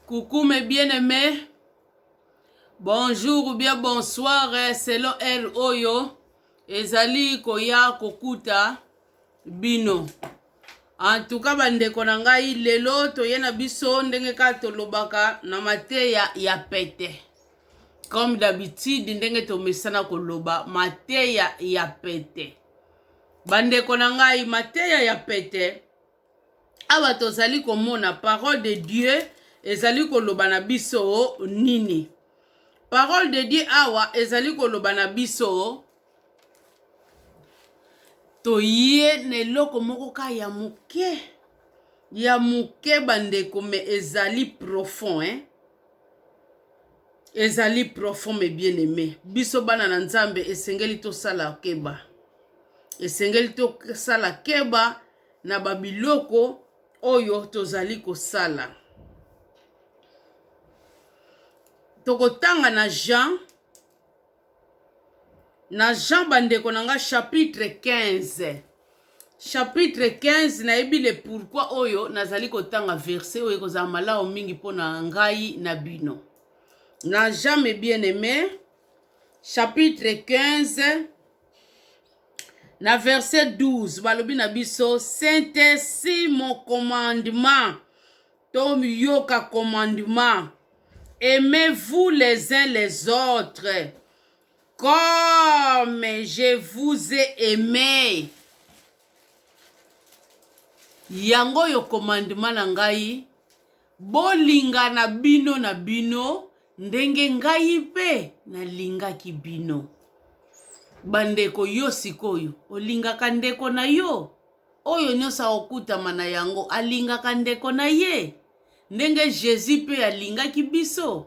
Coucou mes bien aimés. Bonjour ou bien bonsoir eh, selon heure oyo ezali koya kokuta bino. En tout cas bandeko na ngai lelo toye na biso ndenge kaka tolobaka na mateya ya pete. Comme d'habitude ndenge tomesana koloba mateya ya pete. Bandeko na ngai mateya ya pete Awa tozali komona parole de Dieu ezali koloba na biso nini? Parole de Dieu awa ezali koloba na biso toye na eloko moko ka ya moke ya moke bandeko me ezali profond eh? ezali profond me bien aime biso bana na nzambe esengeli tosala keba esengeli tosala keba na ba biloko oyo tozali kosala. Tokotanga na Jean na Jean bandeko na nga chapitre 15 chapitre 15 nayebi le pourquoi oyo nazali kotanga verset oyo ekozala malamu mingi mpo na ngai na bino na Jean mes bien aimé chapitre 15 Na verse 12 balobi na biso sentesi mokomandema toyoka komandema aimez-vous les uns les autres comme je vous ai aimé yango oyo komandema na ngai bolingana bino na bino Ndenge ngai mpe nalingaki bino. Bandeko, yo sikoyo olingaka ndeko na yo? Oyo nyonso akokutama na yango alingaka ndeko na ye ndenge Jésus mpe alingaki biso?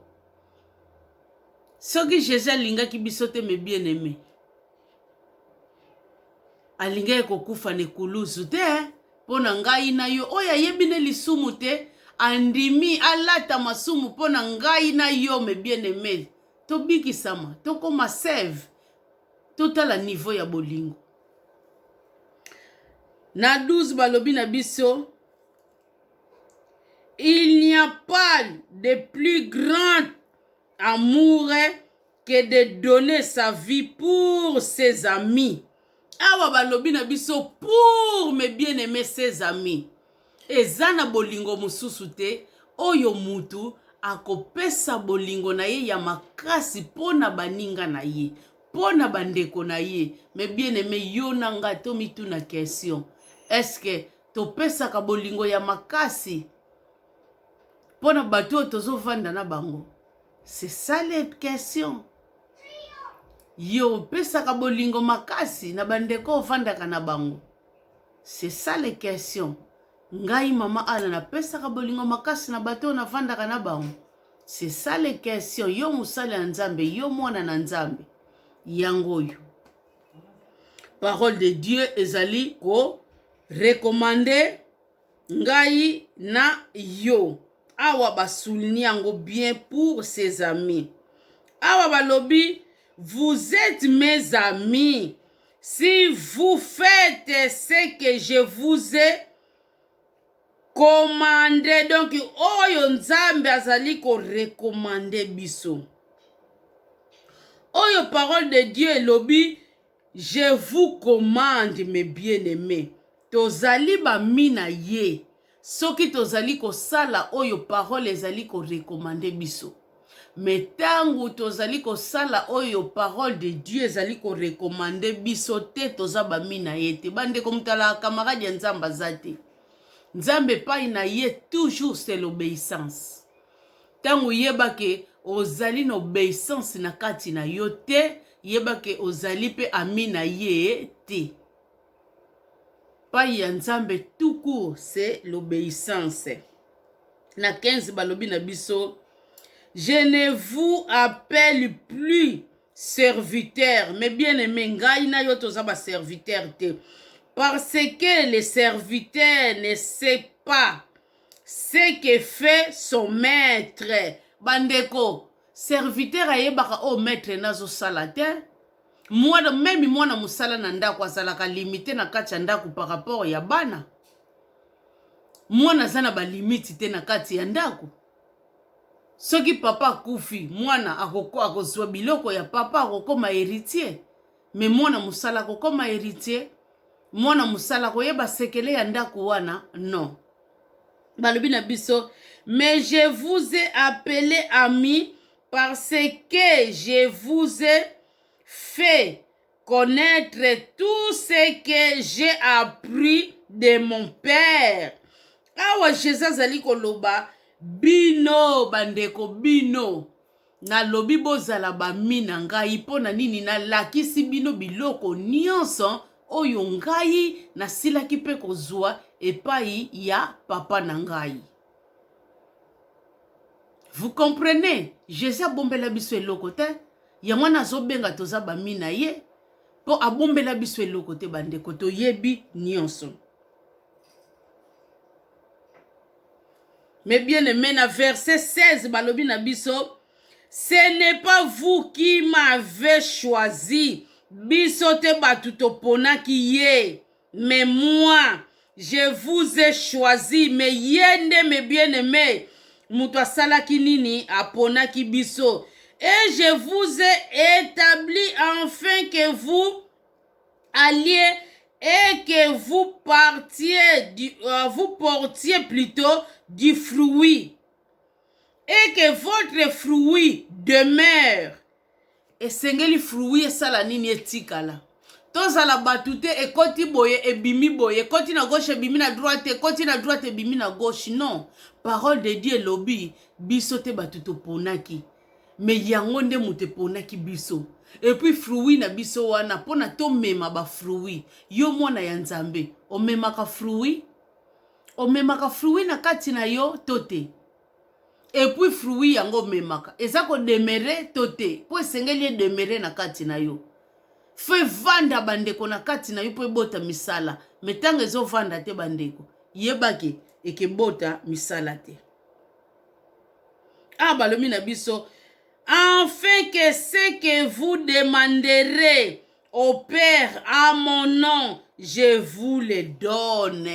Soki Jésus alingaki biso te, mes bien-aimés, alingaki kokufa na ekulusu te mpo na ngai na yo oyo ayebi nde lisumu te andimi alata masumu mpo na ngai na yo me bien aime tobikisama tokoma save totala nivo ya bolingo na 12 balobi na biso il n'y a pas de plus grand amour que de donner sa vie pour ses amis awa balobi na biso pour mes bien aime ses amis eza na bolingo mosusu te oyo mutu akopesa bolingo na ye ya makasi mpo na baninga na ye mpo na bandeko na ye me bien aime yo na nga tomituna question eske topesaka bolingo ya makasi mpo na bato oyo tozovanda na bango C'est ça les questions. Yo opesaka bolingo makasi na bandeko ofandaka na bango. C'est ça les questions. Ngai mama Ana napesaka bolingo makasi na bato oyo nafandaka na bango. C'est ça les questions. Yo mosali ya Nzambe, yo mwana na Nzambe. Yango oyo. Parole de Dieu ezali ko recommander Ngai na yo awa ba souligne yango bien pour ses amis awa balobi vous etes mes amis si vous faites ce que je vous ai commande donc oyo nzambe azali ko recommande biso oyo parole de dieu elobi Je vous commande mes bien aimes tozali ba mi na ye soki tozali kosala oyo parole ezali ko recommande biso me tangu tozali kosala oyo parole de Dieu ezali ko recommande biso te toza ba mi na ye te bandeko mutala camarade ya nzambe aza te nzambe epai na ye toujours c'est l'obeissance Tango yeba ke ozali na obeissance na kati na yo te, yeba ke ozali pe ami na ye te. Epayi ya Nzambe tout court c'est l'obeissance. Na 15 balobi na biso je ne vous appelle plus serviteur mais bien aime ngai na yo toza ba serviteur te parce que le serviteur ne sait pas ce que fait son maître bandeko serviteur ayebaka oyo maître na azosala te mwana meme mwana mosala na ndako azalaka limite na kati ya ndako par rapport ya bana mwana aza na balimiti te na kati ya ndako soki papa akufi mwana akozwa biloko ya papa akokoma héritier Mais mwana musala ko koma heritier, mwana musala ko yeba sekele ya ndaku wana non. Balobi na biso mais je vous ai appelé ami parce que je vous ai fait connaître tout ce que j'ai appris de mon père. Awa Jésus azali koloba bino bandeko bino Nalobi bozala bami na ngai, mpo na nini nalakisi bino biloko nyonso oyo ngai nasilaki mpe kozwa epai ya Papa na ngai. Vous comprenez? Jesus abombela biso eloko te, yango wana azobenga toza bami na ye, mpo abombela biso eloko te bandeko, toyebi nyonso. Mes bien aime na verse 16 balobi na biso ce n'est pas vous qui m'avez choisi biso te bato toponaki ye mais moi je vous ai choisi mais ye nde mes bien aime moto asalaki nini aponaki biso et je vous ai établi enfin que vous alie et que vous partiez du, euh, vous portiez plutôt du fruit et que votre fruit demeure esengeli fruit esala nini etikala tozala bato te ekoti boye ebimi boye ekoti na gauche ebimi na droite ekoti na droite ebimi na gauche non parole de dieu elobi biso te bato toponaki mais yango nde moto eponaki biso epuis fruit na biso wana mpona tomema bafruit yo mwana ya nzambe omemaka fruit omemaka fruit na kati na yo to te epuis fruit yango omemaka eza kodemere to te mpo esengeli edemere na kati na yo fo evanda bandeko na kati na yo mpo ebota misala me ntango ezovanda te bandeko yebake ekebota misala te awa ah, balobi na biso enfin que ce que vous demanderez au père à mon nom je vous le donne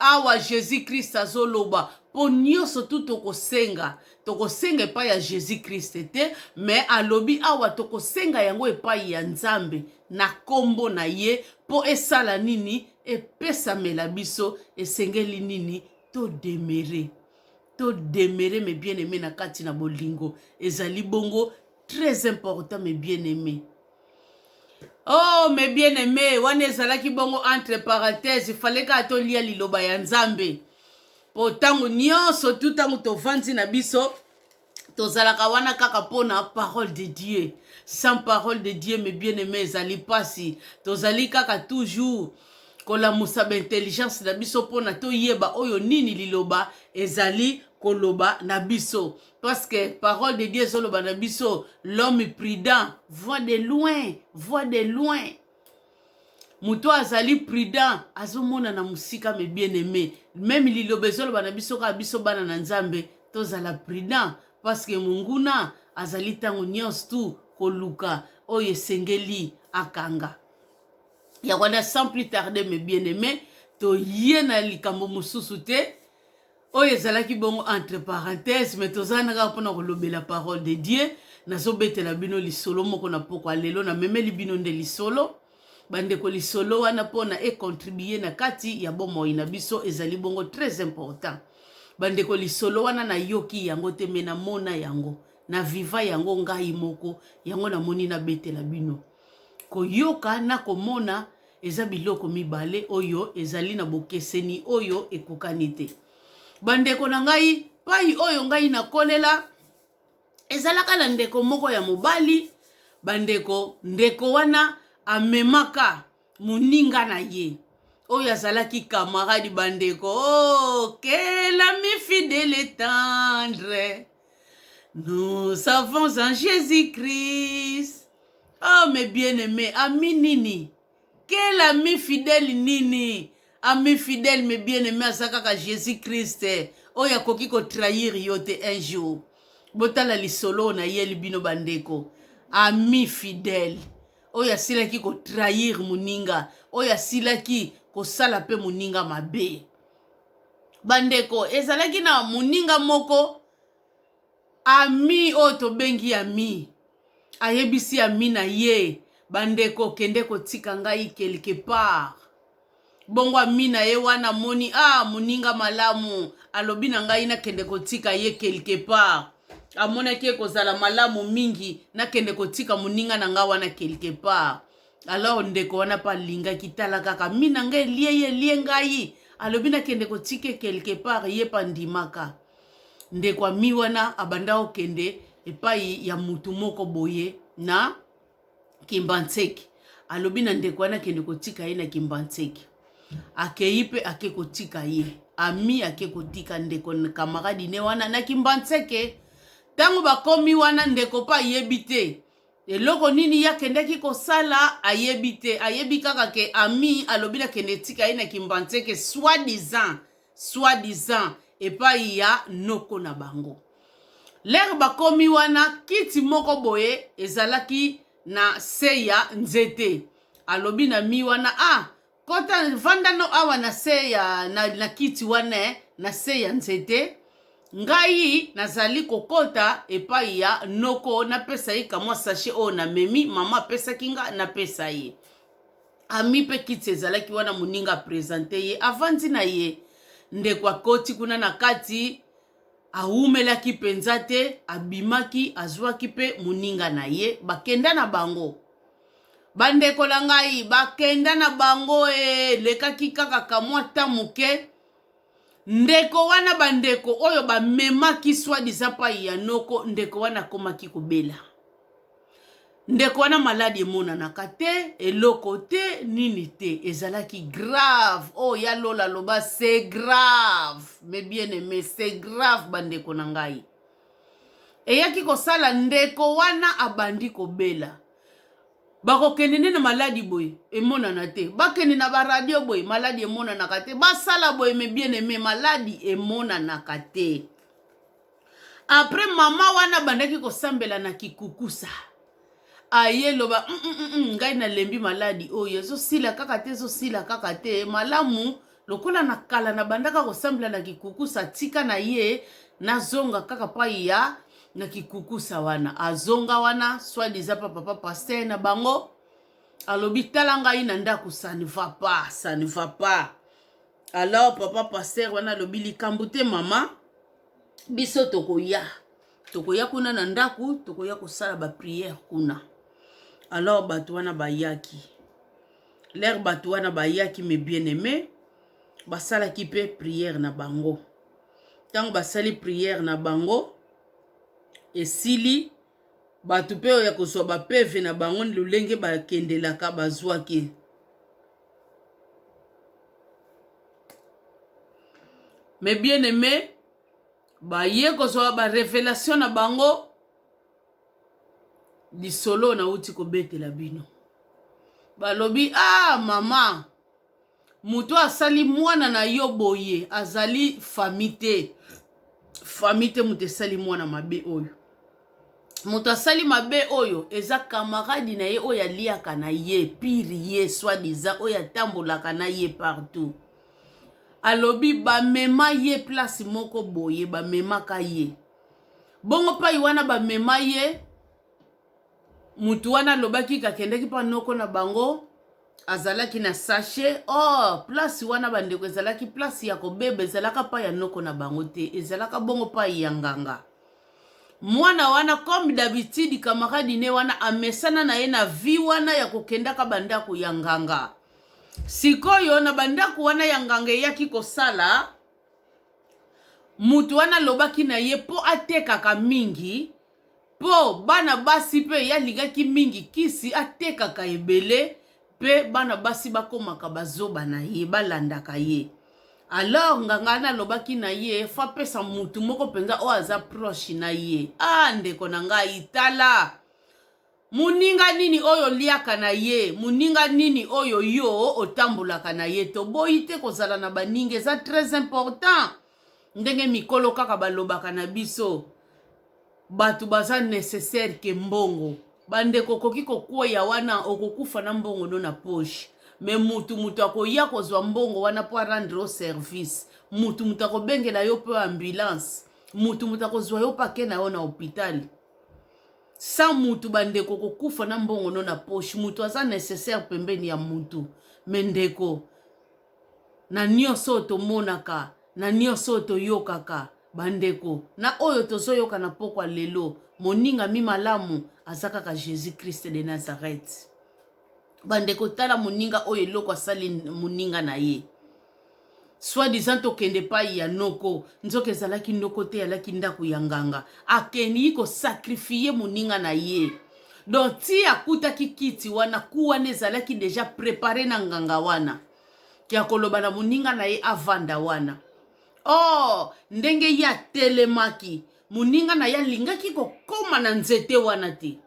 awa jésus christ azoloba mpo nyonso tu tokosenga tokosenga epai ya jésus christ te me alobi awa tokosenga yango epai ya nzambe na nkombo na ye mpo esala nini epesamela biso esengeli nini todemere To demeurer mes bien aimes na kati na bolingo ezali bongo très important mes bien aimes. Oh mes bien aimes, wana ezalaki bongo entre parenthèses, fallait kaka tolia liloba ya Nzambe. Po tango nyonso tu tango tovandi na biso tozalaka wana kaka mpo na parole de dieu sans parole de dieu me bien aime ezali mpasi tozali kaka toujours kolamusa baintelligence na biso mpo na toyeba oyo nini liloba ezali koloba na biso parce que parole de dieu ezoloba na biso l'homme prudent voit de loin voit de loin moto oyo azali prudent azomonana mosika me bien aime meme liloba ezoloba na biso kaka biso bana na nzambe tozala prudent parceke monguna azali ntango nyonso tu koluka oyo esengeli akanga yango wana sans plus tarde me bien aime toye na likambo mosusu te oyo ezalaki bongo entre parenthèse mais toza na kaka mpona kolobela parole de dieu nazobetela bino lisolo moko na pokwa lelo namemeli bino nde lisolo bandeko lisolo wana mpona econtribue na kati ya bomoi na biso ezali bongo très important bandeko lisolo wana nayoki yango te me namona yango na viva yango ngai moko yango namoni nabetela bino koyoka na komona Eza biloko mibale oyo ezali na bokeseni oyo ekokani te. Bandeko na ngai, pai oyo ngai nakolela ezalaka na ndeko moko ya mobali, bandeko, ndeko wana amemaka moninga na ye oyo azalaki camarade bandeko oh, que l'ami fidèle et tendre Nous avons un Jésus-Christ. Oh mes bien-aimés, ami nini? Quel ami fidèle nini? Ami fidèle mes bien-aimés aza kaka Jésus-Christ oyo akoki ko trahir yo te un jour. Botala lisolo oyo nayeli bino bandeko. Ami fidèle oyo asilaki ko trahir moninga, oyo asilaki kosala mpe moninga mabe. bandeko ezalaki na moninga moko ami oyo tobengi ami ayebisi ami na ye bandeko kende kotika ngai quelque part bongo ami na ye wana amoni a ah, moninga malamu alobi na ngai nakende kotika ye quelque part amonaki ekozala malamu mingi nakende kotika moninga na ngai wana quelque part alors ndeko wana mpe alingaki tala kaka mi na ngai elie ye elie ngai alobi nakende kotike quelque part ye mpe andimaka ndeko ami wana abanda kokende epai ya mutu moko boye na kimbanseki alobi na ndeko wana akende kotika ye na kimbanseki akei mpe ake kotika ye ami ake kotika ndeko kamaradi ne wana na kimbanseke ntango bakomi wana ndeko mpe ayebi te Eloko nini ye akendaki kosala ayebi te, ayebi kaka ke ami alobi na kende etika ye na Kimbanseke soit disant, soit disant epai ya noko na bango. Lere bakomi wana, kiti moko boye ezalaki na se ya nzete. Alobi na mi wana, ah Kota vanda no awa na se ya na, na kiti wana na se ya nzete ngai nazali kokota epai ya noko napesa ye kamwa sashe oyo namemi mama apesaki nga napesa ye ami mpe kiti ezalaki wana moninga apresente ye avandi na ye ndeko akoti kuna na kati awumelaki mpenza te abimaki azwaki mpe moninga na ye bakenda na bango Bandeko na ngai bakenda na bango, elekaki kaka kamwa temps moke, ndeko wana, bandeko oyo bamemaki soit disant pai ya noko, ndeko wana akomaki kobela. Ndeko wana maladi emonanaka te, eloko te, nini te, ezalaki grave. Oyo oh, ya Lola aloba c'est grave, mes bien-aimés, c'est grave bandeko na ngai. Eyaki kosala ndeko wana abandi kobela. bakokende nde na maladi boye emonana te bakende na baradio boye maladi emonanaka te basala boye me bien aime maladi emonanaka te apres mama wana abandaki kosambela na kikukusa aye loba mm, mm, mm, mm ngai nalembi maladi oyo ezosila kaka te ezosila kaka te malamu lokola na kala nabandaka kosambela na kikukusa tika na ye nazonga kaka pai ya na kikukusa wana azonga wana swadiza pa papa paster na bango alobi tala ngai na ndako ça ne va pas ça ne va pas alors papa paster wana alobi likambo te mama biso tokoya tokoya kuna na ndako tokoya kosala bapriere kuna alors bato wana bayaki Lere bato wana bayaki me bien aime basalaki mpe priere na bango. Ntango basali priere na bango esili, bato mpe oyo ya kozwa bapeve na bango lolenge bakendelaka bazwaki. Me bien aime baye kozwa barevelation na bango lisolo nauti kobetela bino balobi ah mama moto asali mwana na yo boye azali fami te fami te moto esali mwana mabe oyo moto asali mabe oyo eza kamaradi na ye oyo aliaka na ye pire ye swadiza oyo atambolaka na ye partout alobi bamema ye place moko boye bamemaka ye Bongo pai wana bamema ye, motu wana alobaki kakendaki mpa noko na bango azalaki na sashe or oh, place wana bandeko ezalaki place ya kobeba ezalaka mpa ya noko na bango te ezalaka bongo pai ya nganga mwana wana comme d'habitude kamaradi ne wana amesana na ye na vie wana ya kokendaka bandako ya nganga sikoyo na bandako wana ya nganga eyaki kosala Mutu wana alobaki na ye po atekaka mingi po bana basi pe ye alingaki mingi kisi atekaka ebele pe bana basi bakomaka ba zoba na ye balandaka ye alors nganga wana alobaki na ye faut apesa mutu moko penza oyo aza proche na ye ah ndeko na ngai tala Moninga nini oyo oliaka na ye? Moninga nini oyo yo otambolaka na ye? Toboyi te kozala na baninga eza très important. Ndenge mikolo kaka balobaka na biso bato baza necessaire ke mbongo. Bandeko okoki kokweya wana okokufa na mbongo no na poche. Mais mutu mutu akoya kozwa mbongo wana po a rendre yo service. Mutu mutu akobengela yo po ambulance. Mutu mutu akozwa yo po ake na yo na hopital. Sans mutu ba ndeko okokufa na mbongo no na poche mutu aza necessaire pembeni ya mutu mais ndeko na nionso oyo tomonaka na nionso oyo toyokaka ba ndeko na oyo tozoyoka na pokwa lelo moninga mi malamu aza kaka Jesus Christ de Nazareth ba ndeko tala moninga oyo eloko asali moninga na ye soit disant tokende epai ya noko nzoka ezalaki noko te alaki ndako ya nganga akendi kosakrifie moninga na ye donc ti akutaki kiti wana ku wana ezalaki deja prepare na nganga wana ya koloba na moninga na ye avanda wana or ndenge ye atelemaki moninga na ye alingaki kokoma na nzete wana te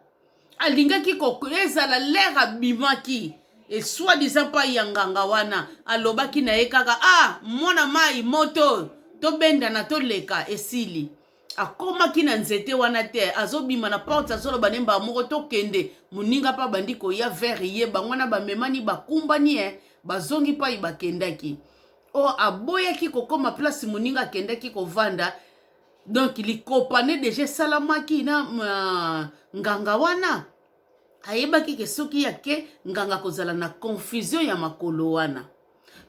alingaki ezala lere abimaki esoi disant mpai ya nganga wana alobaki na ye kaka ah mwana mai moto tobendana toleka esili akomaki na nzete wana te azobima na porte azoloba ne mbaa moko tokende moninga mpe abandi koya vere ye bango wana bamemani bakumbani e bazongi mpai bakendaki o oh, aboyaki kokoma place moninga akendaki kovanda donc likopane deja esalamaki na uh, nganga wana ayebaki ke soki yake nganga kozala na confusion ya makolo wana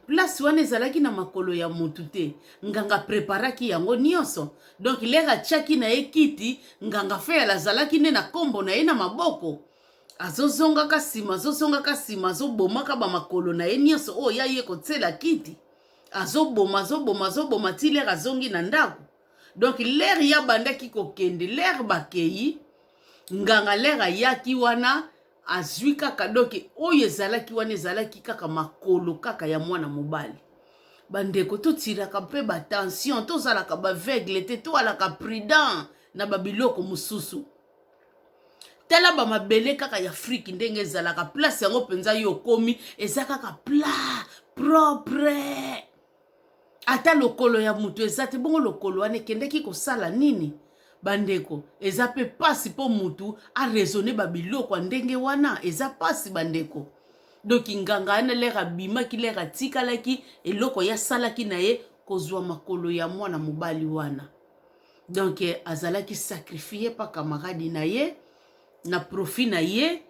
place wana ezalaki na makolo ya motu te nganga preparaki yango nyonso donk lere atyaki na ye kiti nganga feyala azalaki nde na nkombo na ye na maboko azozongaka nsima azozongaka nsima azobomaka bamakolo na ye nyonso oyo ya ye kotyela kiti azoboma azoboma azoboma ti lere azongi na ndako donk lere ye abandaki kokende lere bakei nganga lere ayaki wana azwi kaka donk oyo ezalaki wana ezalaki kaka makolo kaka ya mwana mobali bandeko totiraka mpe batension tozalaka baveugle te toalaka prudent na babiloko mosusu tala ba mabele kaka ya afrique ndenge ezalaka place yango mpenza yo okomi eza kaka plat propre ata lokolo ya moto eza te bongo lokolo wana ekendeki kosala nini bandeko eza mpe mpasi mpo motu araisonne babiloko ya ndenge wana eza mpasi bandeko donki nganga yana lere abimaki lere atikalaki eloko ye asalaki na ye kozwa makolo ya mwana mobali wana donc eh, azalaki sacrifie pa camarade na ye na profit na ye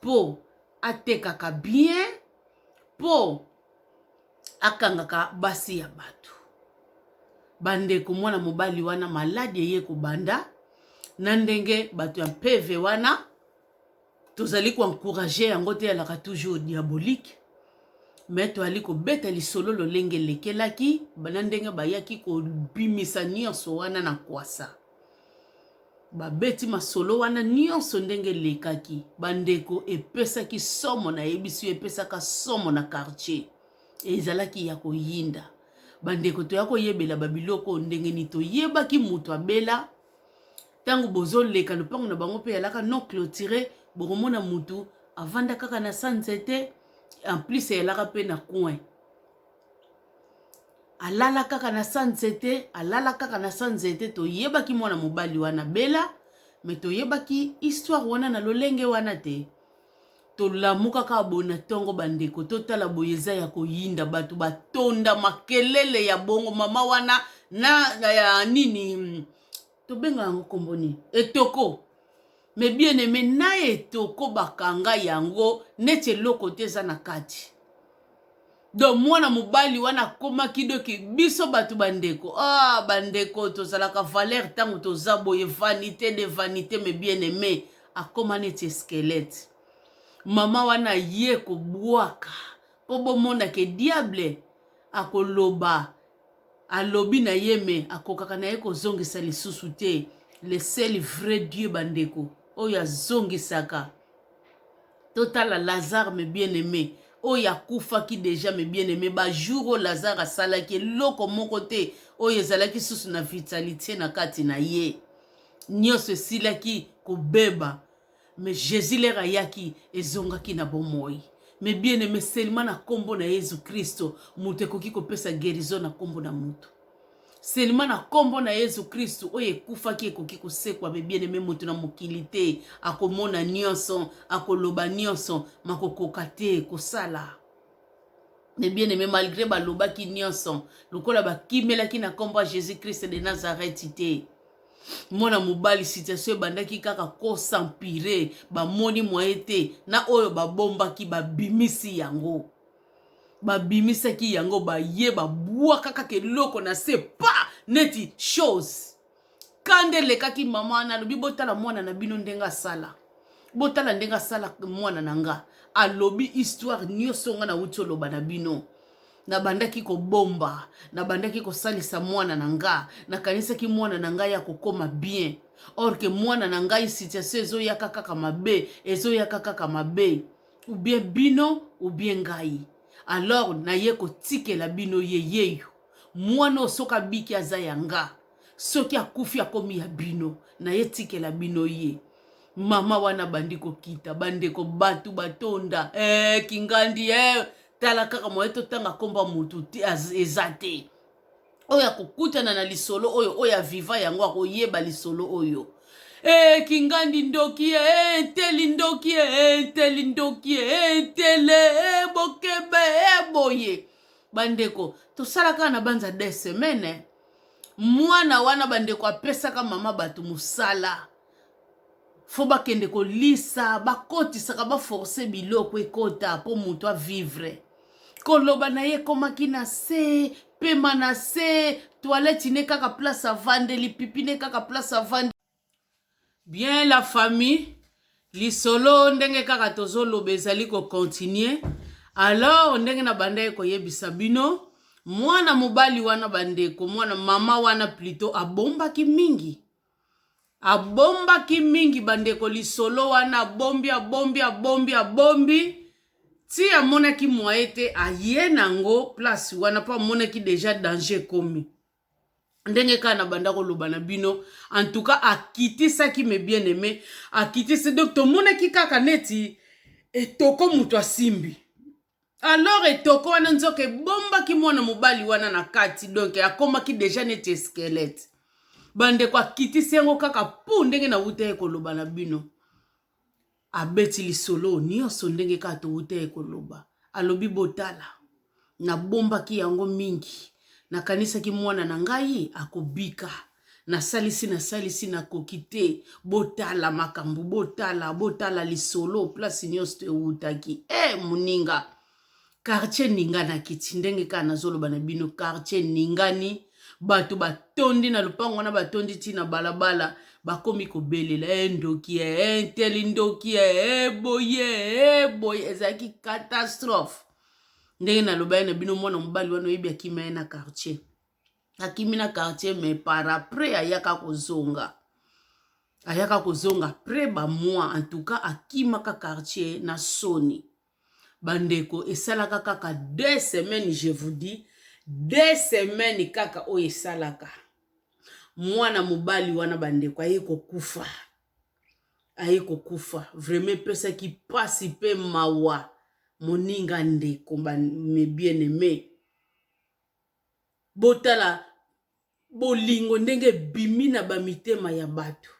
mpo atekaka bien mpo akangaka basi ya bato bandeko mwana mobali wana maladi eye kobanda na ndenge bato ya mpeve wana tozali ko encourager yango te elaka toujours diabolique me toyali kobeta lisolo lolenge elekelaki bana ndenge bayaki kobimisa nyonso wana na kwasa babeti masolo wana nyonso ndenge elekaki bandeko epesaki somo nayebisi yo epesaka somo na quartier ezalaki ya koyinda bandeko toya koyebela babiloko ndenge nini toyebaki moto abela Tango bozo leka lopango na bango pe alaka non clotire bokomona mutu avanda kaka na sa nzete en plus eyalaka pe na coin alala kaka na sa nzete alala kaka na sa nzete toyebaki mwana mobali wana bela me toyebaki histoire wana na lolenge wana te tolamuka kaka boye na ntongo bandeko totala boye eza ya koyinda bato batonda makelele ya bongo mama wana na ya nini tobenga yango nkombo nini etoko me bien aime na etoko bakanga yango neti eloko te eza na kati donc mwana mobali wana akomaki doki biso bato bandeko ah bandeko tozalaka valeur ntango toza boye vanité de vanité me bien aime akoma neti esquelete mama wana ye kobwaka mpo bomonake diable akoloba Alobi na ye mais akokaka na ye kozongisa lisusu te le seul vrai Dieu ba ndeko oyo azongisaka totala Lazare me bien aime oyo akufaki deja me bien aime ba jour oyo Lazare asalaki eloko moko te oyo ezalaki susu na vitalite na kati na ye nionso esilaki kobeba Mais Jesus lere ayaki ezongaki na bomoi. Mais bien aime seulement na kombo na Yesu Kristo moto ekoki kopesa guerison na kombo na moto. Seulement na kombo na Yesu Kristo oyo ekufaki ekoki kosekwa mais bien aime moto na mokili te akomona nionso akoloba nionso makokoka te kosala. Mais bien aime malgré balobaki nionso lokola bakimelaki na kombo ya Jesus Christ de Nazareth te. mwana mobali situation ebandaki kaka ko s'empirer bamoni moyen te na oyo babombaki babimisi yango babimisaki yango baye babwaka kaka eloko na se pa neti chose kanda elekaki mama wana alobi botala mwana na bino ndenge asala botala ndenge asala mwana na nga alobi histoire nyonso nga nauti oloba na bino nabandaki kobomba nabandaki kosalisa mwana na nga nakanisaki mwana na ngai akokoma bien or ke mwana na ngai situation ezoyaka kaka mabe ezoyaka kaka mabe ou bien bino ou bien ngai alors naye kotikela bino ye yeyo mwana oyo soki abiki aza ya nga soki akufi akomi ya bino naye tikela bino ye mama wana bandi kokita bandeko batu batonda eh, kingandi eh, tala kaka moye totanga nkombo ya motu eza te oyo akokutana na lisolo oyo oyo aviva yango akoyeba lisolo oyo ee eh, kingandi ndoki ye ee eh, nteli ndoki ye ee eh, nteli ndoki ye ee ntele ee bokebe ee boye bandeko tosala kaka na banza de semaine mwana wana bandeko apesaka mama bato mosala faut bakende kolisa bakotisaka ba force biloko ekota po mutu a vivre koloba na ye ekomaki na se pema na se toilette ne kaka place avandeli pipi ne kaka place avandeli bien la famille lisolo ndenge kaka tozoloba ezali kocontinue alors ndenge na bandaki koyebisa bino mwana mobali wana bandeko mwana mama wana plutot abombaki mingi Abombaki mingi bandeko lisolo wana abombi abombi abombi abombi ti amonaki moyen te aye nango place wana mpo amonaki deja danger ekomi ndenge kaka na banda koloba na bino en tout cas akitisaki me bien aime akitisi donc tomonaki kaka neti etoko moto asimbi Alors etoko wana nzoka ebombaki mwana mobali wana na kati donc akomaki deja neti squelette bandeko akitisi yango kaka pu ndenge nawuta ye koloba na bino abeti lisolo nyonso ndenge kaka towuta ye koloba alobi botala nabombaki yango mingi nakanisaki mwana na ngai akobika nasalisi nasalisi nakoki te botala makambo botala botala lisolo place nyonso to ewutaki e eh, hey, moninga kartier ninganaki ti ndenge kaka nazoloba na bino kartier ningani bato batondi na lopango wana batondi ti na balabala bakomi kobelela e eh, ndoki e eh, nteli ndoki e boye e boye ezalaki catastrophe ndenge nalobaki na bino mwana mobali wana oyebi akima ye na kartier akimi na quartier me par après ayaka kozonga ayaka kozonga après ba mois en tout cas akimaka quartier na soni bandeko esalaka kaka deux semaines je vous dis deux semaines kaka oyo esalaka mwana mobali wana bandeko aye kokufa aye kokufa vraiment epesaki mpasi mpe mawa moninga ndeko mes bien aimés Botala bolingo ndenge ebimi na ba mitema ya bato.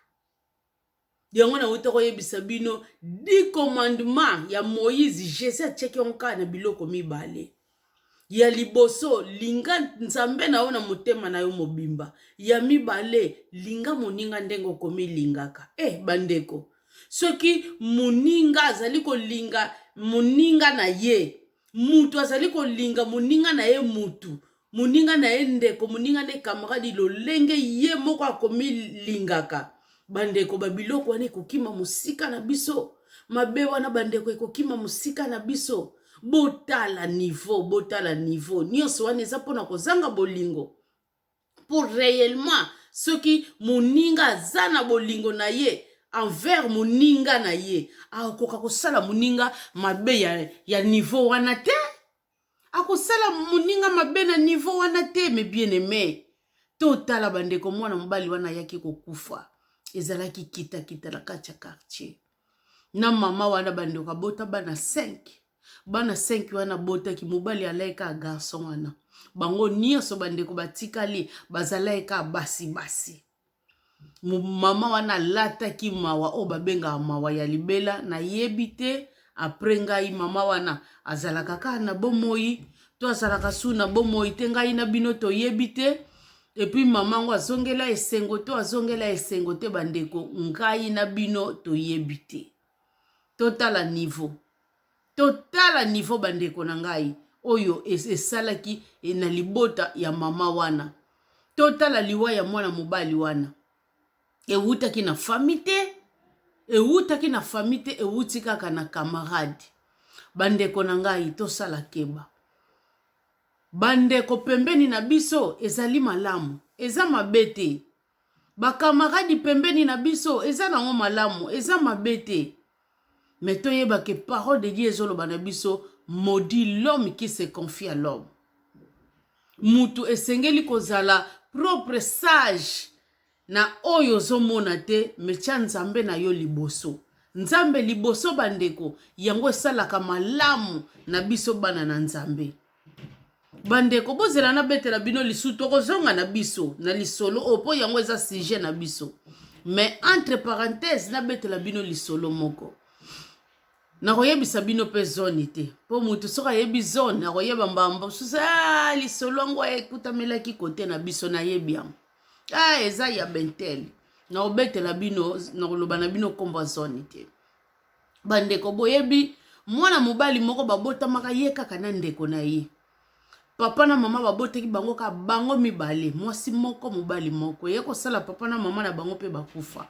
Yango nawuti koyebisa bino dix commandement ya Moïse, Jesus atiaki yango kaka na biloko mibale. Ya liboso, linga Nzambe na yo na motema na yo mobimba. Ya mibale, linga moninga ndenge okomilingaka. Eh bandeko, soki moninga azali kolinga moninga na ye mutu azali kolinga moninga na ye mutu moninga na ye ndeko moninga na ye kamaradi lolenge ye moko akomilingaka bandeko babiloko wana ekokima mosika na biso mabe wana bandeko ekokima mosika na biso botala nivo botala nivo nyonso wana eza mpona kozanga bolingo mpo reellement soki moninga aza na bolingo na ye envers moninga na ye akokoka kosala moninga mabe ya, ya niveau wana te akosala moninga mabe na niveau wana te me bien aime totala bandeko mwana mobali wana ayaki kokufa ezalaki kitakita na kati ya quartier na mama wana bandeko abota bana 5 bana 5 wana abotaki mobali alai kaka garçon wana bango nyonso bandeko batikali bazalaki kaka basi basi mama wana alataki mawa oyo babengaka mawa ya libela nayebi te apres ngai mama wana azalaka kaka na bomoi to azalaka su na bomoi te ngai na bino toyebi te epuis mama yango azongela esengo to azongela esengo te bandeko ngai na bino toyebi te totala niveau totala niveau bandeko na ngai oyo esalaki e, na libota ya mama wana totala liwa ya mwana mobali wana ewutaki na fami te ewutaki na fami te ewuti kaka na kamarade bandeko na ngai tosala keba Bandeko pembeni na biso ezali malamu, eza mabe te. Bakamaradi pembeni na biso eza nango malamu, eza mabe te. Mais toyeba ke parole de Dieu ezoloba na biso maudit l'homme qui se confie à l'homme. Mutu esengeli kozala propre, sage, Na oyo ozo mona te mais tia nzambe na yo liboso nzambe liboso ba ndeko yango esalaka malamu na biso bana na nzambe ba ndeko bozela na betela bino lisu toko zonga na biso na lisolo oyo po yango eza sujet na biso mais entre parenthèse na betela bino lisolo moko nakoyebisa bino mpe zone te mpo motu soki ayebi zone akoyeba mbamba mosusu ah, lisolo yango ekutamelaki kote na biso nayebi yango ah eza ya bentel nakobetela bino nakoloba na bino nkombo ya zone te bandeko boyebi mwana mobali moko babotamaka ye kaka na ndeko na ye papa na mama babotaki bango kaka bango mibale mwasi moko mobali moko ye kosala papa na mama na bango mpe bakufa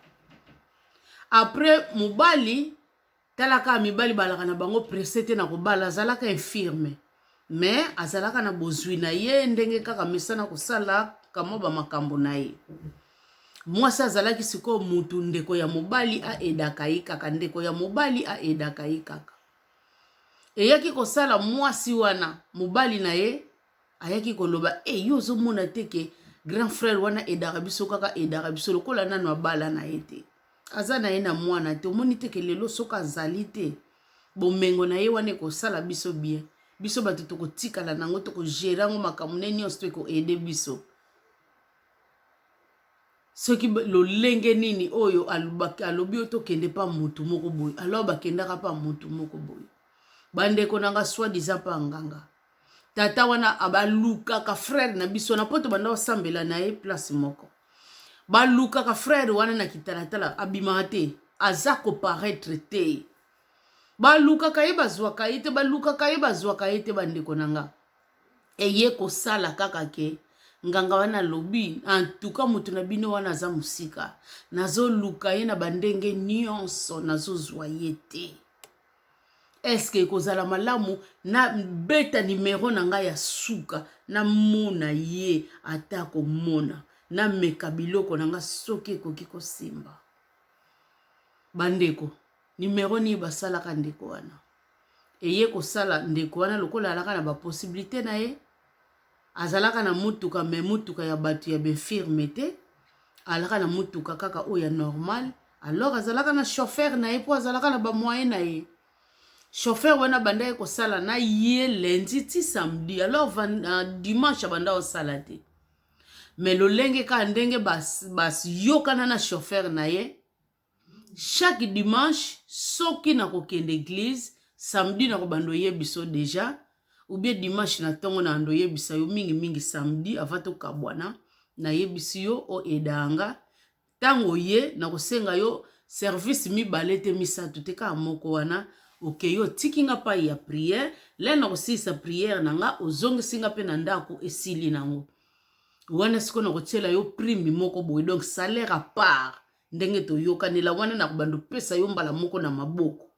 apres mobali tala kaka mibali balaka na bango presse te na kobala azalaka infirme mais azalaka na bozwi na ye ndenge kaka mesana kosala kamwa bamakambo na ye mwasi azalaki sikoyo mutu ndeko ya mobali aedaka ye kaka ndeko ya mobali aedaka ye kaka eyaki kosala mwasi wana mobali na ye ayaki koloba e eh, yo ozomona te ke grand frère wana edaka biso kaka edaka biso lokola nano abala na ye te aza na ye na mwana te omoni te ke lelo soki azali te bomengo na ye wana ekosala biso bien biso bato tokotikala nango tokogere yango makambo ne nyonso to ekoede biso soki lolenge nini oyo alobi yo tokende mpa motu moko boye alors bakendaka mpa motu moko boye bandeko na nga swadisa mpa nganga tata wana balukaka frère na biso na poto banda osambela na ye place moko balukaka frère wana na kitalatala abimaka te aza koparaître te balukaka ye bazwaka ye te balukaka ye bazwaka ye te bandeko na nga eye kosala kaka ke nganga wana alobi antuka moto na bino wana aza mosika nazoluka ye na bandenge nyonso nazozwa ye te eske ekozala malamu nabeta nimero na ngai ya suka namona ye ata komona nameka biloko na ngai soki ekoki kosimba bandeko nimero nini basalaka ndeko wana eye kosala ndeko wana lokola alaka na baposibilite na ye Azalaka na mutuka mais mutuka ya batu ya b'infirme te. Alaka na mutuka kaka oyo ya normal. Alors azalaka na chauffeur na ye po azalaka na ba moyen na ye. Chauffeur wana bandaki kosala na ye lundi ti samedi. Alors van, uh, dimanche abanda kosala te. Mais lolenge kaka ndenge bas, bas yokana na chauffeur na ye chaque dimanche soki na kokende eglise samedi na kobanda oyebisa yo deja ou bien dimanche na ntongo na ando oyebisa yo mingi mingi samedi avant tokabwana nayebisi yo o edanga ntango oye na kosenga yo service mibale te misato te kaka moko wana okei otiki nga pai ya priere lei na kosilisa priere na nga ozongisi nga mpe na ndako esili nango wana sikoyo na kotyela yo prime moko boye donc salaire a part ndenge toyokanela wana na kobanda opesa yo mbala moko na maboko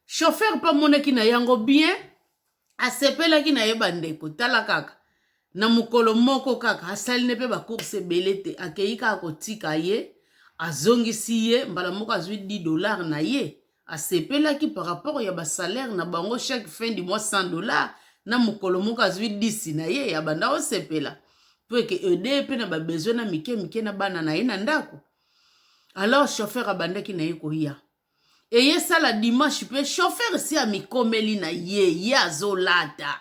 chauffeur mpe amonaki na yango bien asepelaki na ye bandeko tala kaka na mokolo moko kaka asali ne mpe bacourse ebele te akei kaka kotika ye azongisi ye mbala moko azwi 10 dollar na ye asepelaki par rapport ya ba salaire na bango chaque fin du mois 100 dollars na mokolo moko azwi 10 na ye abanda osepela mpo eke ede ye mpe na babesoin na mike mike na bana na ye na ndako alors chauffeur abandaki na ye koya eye esala dimanche mpe chauffeur si amikomeli na ye ye azolata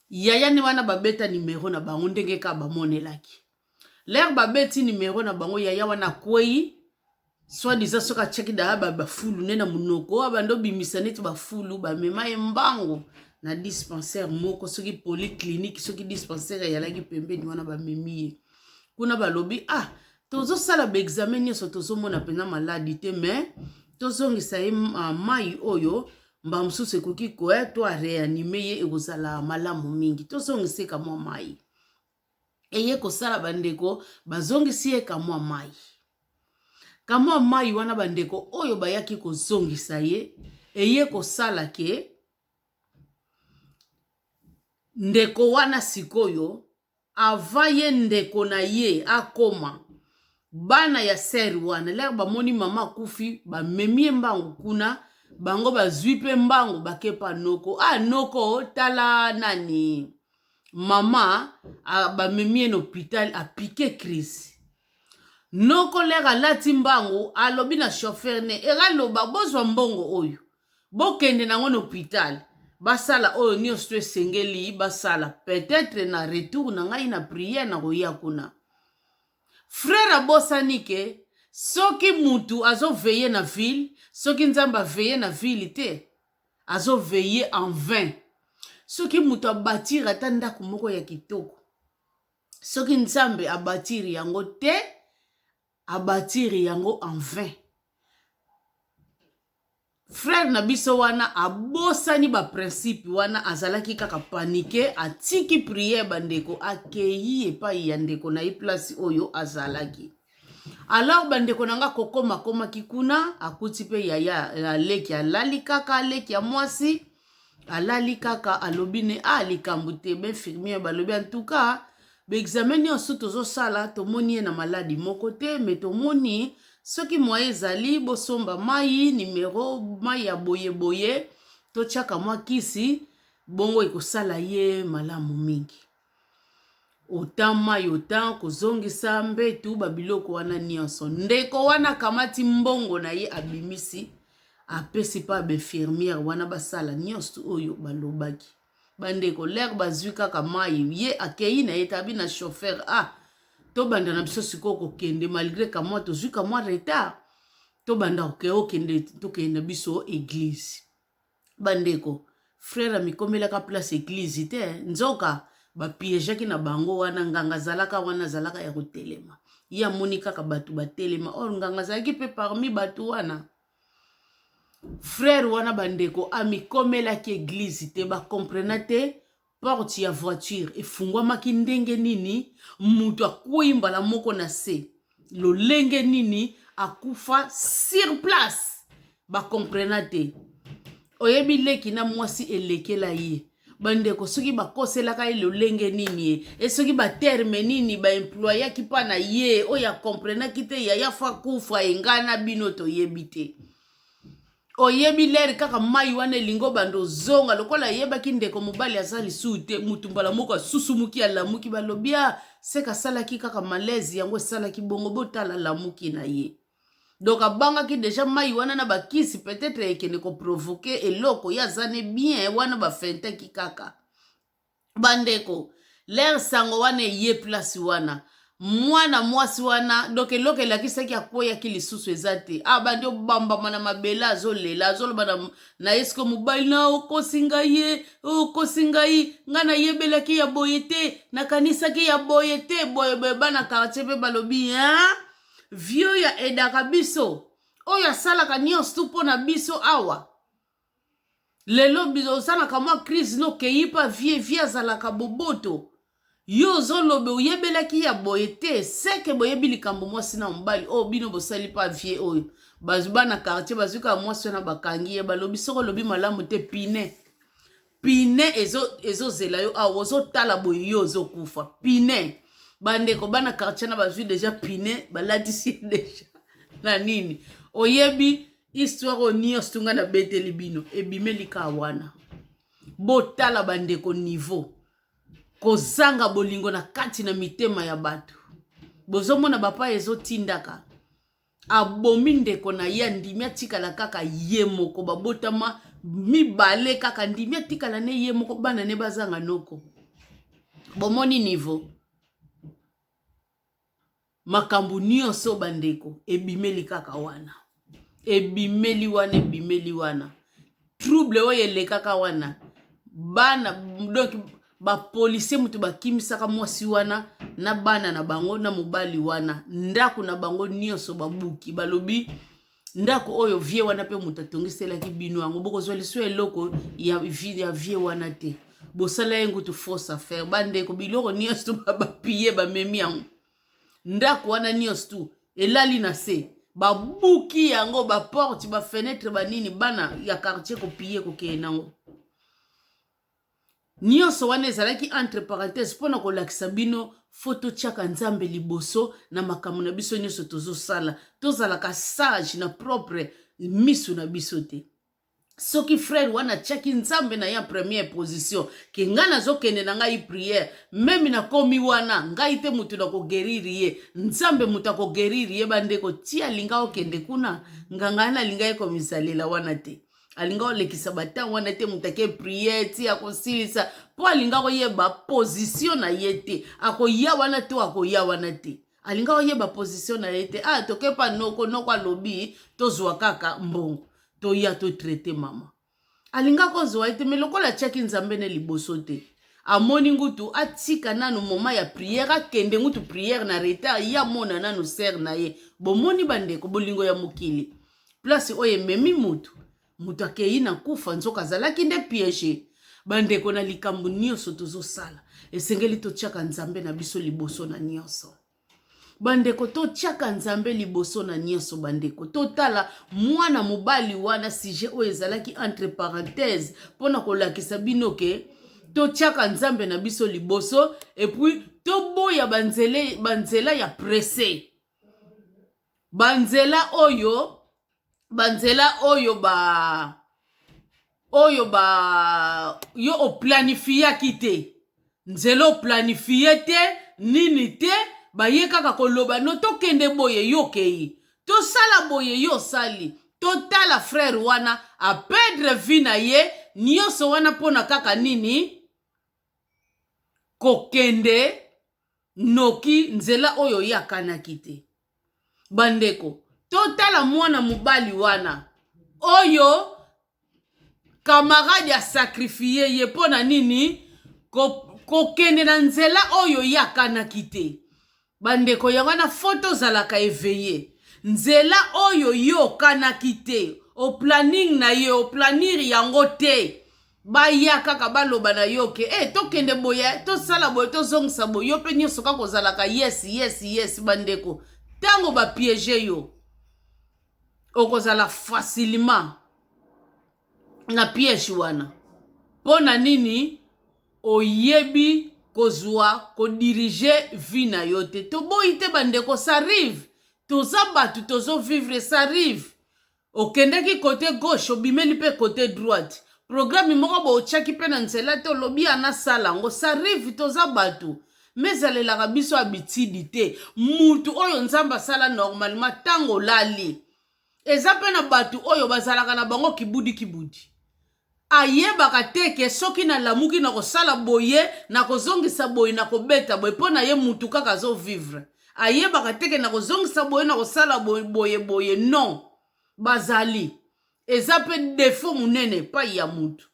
Yaya nde wana babeta numero na bango ndenge kaka bamonelaki. Lere babeti numero na bango yaya wana akwei soit disant soki atiaki daya bafulu nde na monoko abanda obimisa neti bafulu bamema ye mbango na dispensaire moko soki polyclinique soki dispensaire eyalaki pembeni wana bamemi ye kuna balobi ah tozosala baexame nyonso tozomona mpenza maladi te mais tozongisa ye ah, mai oyo mbala mosusu ekoki koya to areanime ye ekozala malamu mingi tozongisi ye kamwa mai eye kosala bandeko bazongisi ye kamwa mai kamwa mai wana bandeko oyo bayaki kozongisa ye eye kosala ke ndeko wana sikoyo Avant ye ndeko na ye akoma, bana ya sœur wana lors bamoni maman akufi ba memi ye mbangu kuna, bango bazui pe mbangu bake epa noko, ah noko tala nani maman, ba memi ye na hopital a pique crise. Noko lors alati mbangu alobi na chauffeur ne, ero aloba bozua mbongo oyo, Bokende nango na hopital basala oyo nioso esengeli basala peut-etre na retour na ngai na prière nakoya kuna. Frère abosani ke soki mutu azo veiller na ville soki Nzambe a veiller na ville te azo veiller en vain. Soki mutu a batir ata ndaku moko ya kitoko soki Nzambe a batir yango te a batir yango en vain frère na biso wana abosani ba principe wana azalaki kaka panike atiki prière bandeko akeyi epai ya ndeko na ye place oyo azalaki alors bandeko na nga kokoma akomaki kuna akuti mpe yaya aleki alali kaka aleki ya mwasi alali kaka alobi ne a ah, likambo te bainfirmiere balobi antuka baexame nyonso tozosala tomoni ye na maladi moko te me tomoni soki mwa ezali bosomba mai nimero mai ya boyeboye totyaka mwa kisi bongo ekosala ye malamu mingi Otan mai, otan kozongisa mbetu, ba biloko wana nionso. Ndeko wana akamati mbongo na ye abimisi apesi pa ba infirmiere wana basala nionso oyo balobaki. Bandeko lere bazwi kaka mai ye akei na ye tabi na chauffeur ah tobanda na biso sikoyo kokende malgre kamwa tozwi kamwa retard tobanda kokende tokende na biso eglise. bandeko frere amikomelaka place eglize te nzoka bapiejaki na bango wana nganga azalaka wana azalaka ya kotelema ye amoni kaka bato batelema or nganga azalaki mpe parmi bato wana frere wana bandeko amikomelaki eglize te bakomprena te Porte ya voiture efungwamaki ndenge nini? Moto akwei mbala moko na se lolenge nini? Akufa sur place, bakomprena te. Oyebi leki na mwasi elekela ye bandeko soki bakoselaka ye lolenge nini ye e soki baterme nini baemployaki mpa na ye oyo akomprenaki te yaya fo akufa engai na bino toyebi te oyebi ler kaka mai wana elingi obanda ozonga lokola ayebaki ndeko mobali aza lisusu te motu mbala moko asusumuki alamuki balobi a ah, seka asalaki kaka malaise yango esalaki bongo botala alamuki na ye donc abangaki deja mai wana na bakisi peut-être ekende koprovoke eloko ye aza ne bien wana bafentaki kaka bandeko lere sango wana eye place wana mwana mwasi wana donc eloko elakisaki akweyaki lisusu eza te abandi ah, obambama na mabele azolela azoloba na, na ye siko mobali na okosi ngai ye okosi ngai ngai nayebelaki ya boye te nakanisaki ya boye te boye boye bana kartier mpe balobi hein? vieux ya edaka biso oyo asalaka nyonso tu mpo na biso awa lelo oza na kamwa crise nokei pa vie vie azalaka boboto yo ozoloba oyebelaki ya boye te seke boyebi likambo mwasi na mobali oyo oh, bino bosali pa vie oyo bazwi bana quartier bazwi kaka mwasi wana bakangi ye balobi soko olobi malamu te pine pine ezozela ezo yo awa ozotala boye yo ozokufa pine bandeko bana quartier na bazwi deja pine balatisi deja na nini oyebi histoire oyo nyonso to ngai nabeteli bino ebimeli kaa wana botala bandeko niveau kozanga bolingo na kati na mitema ya bato bozomona bapa ezotindaka abomi ndeko na ye andimi atikala kaka ye moko babotama mibale kaka andimi atikala ne ye moko bana ne bazanga noko bomoni niveau makambo nyonso bandeko ebimeli kaka wana ebimeli wana ebimeli wana trouble oyo elekaka wana bana donc bapolisie moto bakimisaka mwasi wana na bana na bango na mobali wana ndako na bango nyonso babuki balobi ndako oyo vie wana mpe moto atongiselaki bino yango bokozwa liso eloko ya vie ya vie wana te bosala ye ngutu fausse affaire bandeko biloko nyonso tu bapiye bamemi yango ndako wana nyonso tu elali na se babuki yango baporte bafenetre banini bana ya quartier kopiye kokeye nango Nionso wana ezalaki entre parenthèses pona kolakisa bino faut totiaka Nzambe liboso na makambo na biso nionso tozosala. Tozalaka sage na propre misu na biso te. Soki frère wana atiaki Nzambe na ye en première position ke ngai nazokende na ngai prière meme nakomi wana ngai te motu na kogeriri ye Nzambe motu akogeriri ye bandeko ti alinga okende kuna nganga wana alingaki komisalela wana te alinga olekisa batango wana te moto ake priere ti akosilisa mpo alinga koyeba pozisio na ye te akoya wana to akoya wana te alinga oyeba pozisio na ye te a ah, toke pa noko noko alobi tozwa kaka mbongo toya totraite mama alinga kozwa ye te me lokola atyaki nzambe ne liboso te amoni ngutu atika nanu moma ya priere akende ngutu priere na retard ye amona nanu sere na ye bomoni bandeko bolingo ya mokili place oyo ememi moto moto akei na kufa nzoka azalaki nde piège bandeko na likambo nyonso tozosala esengeli totyaka nzambe na biso liboso na nyonso bandeko totyaka nzambe liboso na nyonso bandeko totala mwana mobali wana sujet oyo ezalaki entre parenthèse mpo na kolakisa bino ke totyaka nzambe na biso liboso epuis toboya banzela ya presse banzela oyo banzela oyo ba oyo ba yo oplanifiaki te nzela oplanifie te nini te baye kaka koloba no tokende boye yo okei tosala boye yo osali totala frere wana apedre vi na ye nyonso wana mpona kaka nini kokende noki nzela oyo ye akanaki te bandeko totala mwana mobali wana oyo kamarade asakrifie ye mpo na nini kokende ko na nzela oyo ye akanaki te bandeko yango wana fo tozalaka eveye nzela oyo ye okanaki te oplanning na ye oplanir yango te baya kaka baloba na yo ke e eh, tokende boye tosala boye tozongisa boye yo mpe nyonso kaka ozalaka yes yes yes bandeko ntango bapiege yo okozala facilement na piège wana mpo na nini oyebi kozwa kodirige vie na yo te toboyi te bandeko sarive toza bato tozovivre sarive okendeki cote gauche obimeli mpe cote droite programme moko bo otiaki mpe na nzela te olobi ana sala yango ça arrive toza bato mais ezalelaka biso abitidi te mutu oyo nzambe asala normalement ntango olali eza mpe na bato oyo bazalaka na bango kibudi kibudi Ayebaka te ke soki na lamuki na kosala boye, na kozongisa boye, na kobeta boye, po na ye mutu kaka azo vivre. Ayebaka te ke na kozongisa boye, na kosala boye, boye, boye, non! Bazali. Eza pe defaut munene epayi ya mutu.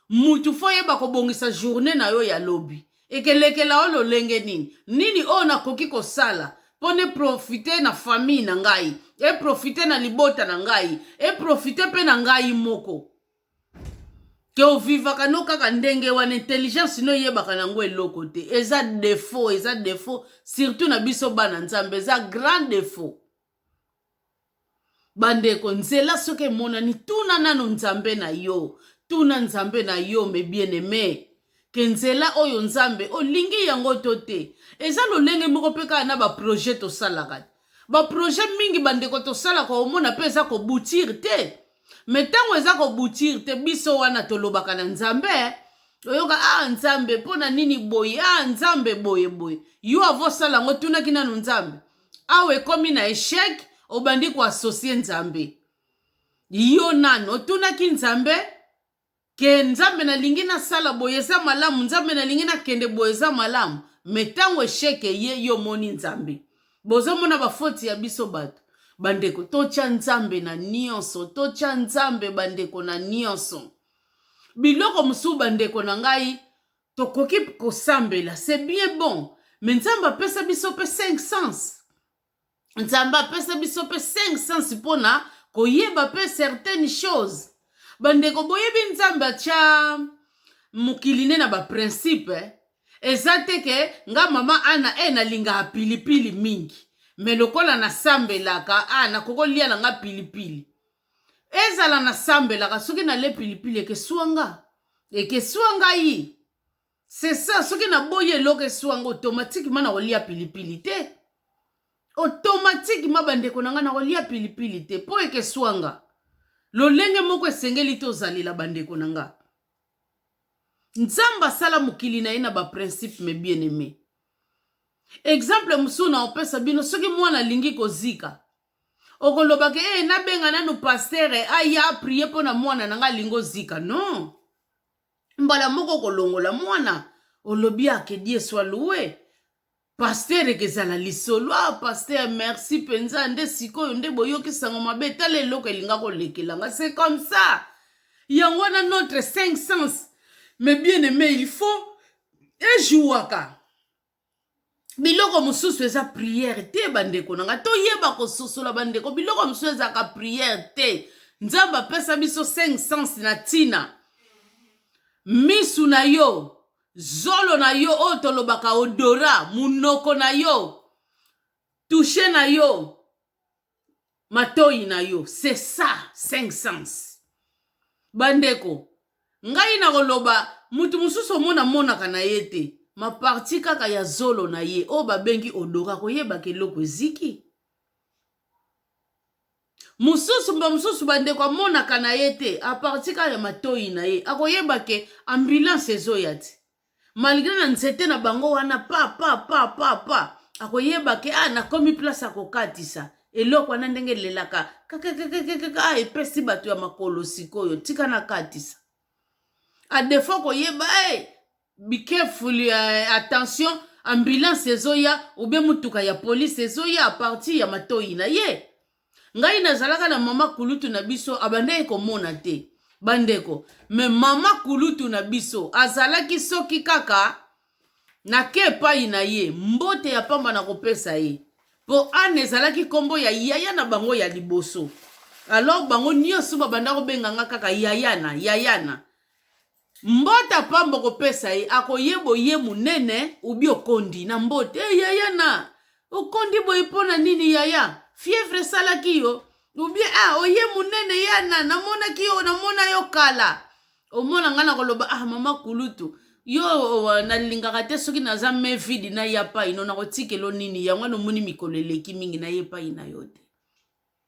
Mutu faut oyeba kobongisa journee na yo ya lobi. Ekelekela yo lolenge nini? Nini oyo nakoki kosala mpo ne profiter na famille na ngai, e profiter na libota na ngai, e profiter mpe na ngai moko? ke ovivaka no kaka ndenge wana intelligence no eyebaka na yango eloko te eza defaut eza defaut surtout na biso bana nzambe eza grand defaut Bandeko, nzela soki emonani, tuna nano Nzambe na yo. Tuna Nzambe na yo, mes bien-aimés. Ke nzela oyo Nzambe, olingi yango to te. Eza lolenge moko pe kaka na ba projets tosalaka. Ba projets mingi bandeko tosalaka omona pe eza ko boutir te. Mais tango eza ko boutir te, biso wana tolobaka na Nzambe, oyoka ah Nzambe pona nini boye? Ah Nzambe boye boye. Yo avant osala yango, otunaki nano Nzambe? awa ekomi na echec obandi koasosie nzambe yo nani otunaki nzambe ke nzambe nalingi nasala boye eza malamu nzambe nalingi nakende boye eza malamu me ntango esheke ye yo omoni nzambe bozomona bafoti ya biso bato bandeko totya nzambe na nyonso totya nzambe bandeko na nyonso biloko mosusu bandeko na ngai Tokoki kosambela c'est bien bon mais Nzambe apesa biso pe 5 sens. Nzambe apesa biso pe 5 sens pona koyeba pe certaines choses. Bandeko boyebi Nzambe atia mokili ne na ba principe eh? eza te ke nga mama ana e eh, nalingaka pilipili mingi me lokola nasambelaka a ah, nakoki kolia na nga pilipili ezala nasambelaka soki nalie pilipili ekesua nga ekesua ngai c'est ça soki naboyi eloko esua nga automatiquement nakolia pilipili te automatiquement bandeko na nga nakolia pilipili te mpo ekesua nga lolenge moko esengeli tozalela bandeko na nga nzambe asala mokili na ye na baprincipe me bien aime exemple mosusu na opesa bino soki mwana alingi kozika okoloba ke ee eh, nabenga nanu pastere aya aprie mpo na mwana na ngai alingi ozika non mbala moko okolongola mwana olobi ake die swa loue pastere kezala lisolo ah pastere merci mpenza nde sikoyo nde boyoki sango mabe tala eloko elinga kolekela nga c'est comme ça yango wana notre 5 sens mais bien aimé il faut ejouaka biloko mosusu eza priere te bandeko na nga toyeba kososola bandeko biloko mosusu ezalaka priere te nzambe apesa biso 5 sens na ntina misu na yo zolo na yo oyo tolobaka odora monoko na yo tushe na yo matoyi na yo c'est ça cinq sens bandeko ngai nakoloba mutu mosusu omona monaka na ye te maparti kaka ya zolo na ye oyo babengi odora koyebaka eloko eziki mosusu mba mosusu bandeko amonaka na ye te aparti kaka ya matoyi na ye akoyeba ke ambulance ezoya te malgre na nzete na bango wana pa pa pa pa pa akoyeba ke ah, nakomi place ya kokatisa eloko wana ndenge elelaka kakekekekeke ah, epesi bato ya makolo sikoyo tika nakatisa adefo koyeba hey, eh, be careful uh, attention ambulance ezoya obe motuka ya polise ezoya parti ya matoi na ye ngai nazalaka na mama kulutu na biso abandaki komona te bandeko me mama kulutu na biso azalaki soki kaka nake epai na ye mbote ya pamba na kopesa ye mpo ana ezalaki nkombo ya yaya na bango ya liboso alors bango nyonso babanda kobenga nga kaka yayana yayana Mbota pamba okopesa ye akoyeba oye munene ubi okondi na mbote e eh, yaya na okondi boye mpo na nini yaya fievre esalaki yo ubie a ah, oye munene yana namonaki yo namona yo kala omona ngai nakoloba ah mama kulutu yo oh, nalingaka te soki naza me vidi naya pai no nakotikelo nini yango nomoni mikolo eleki mingi naye pai na yo te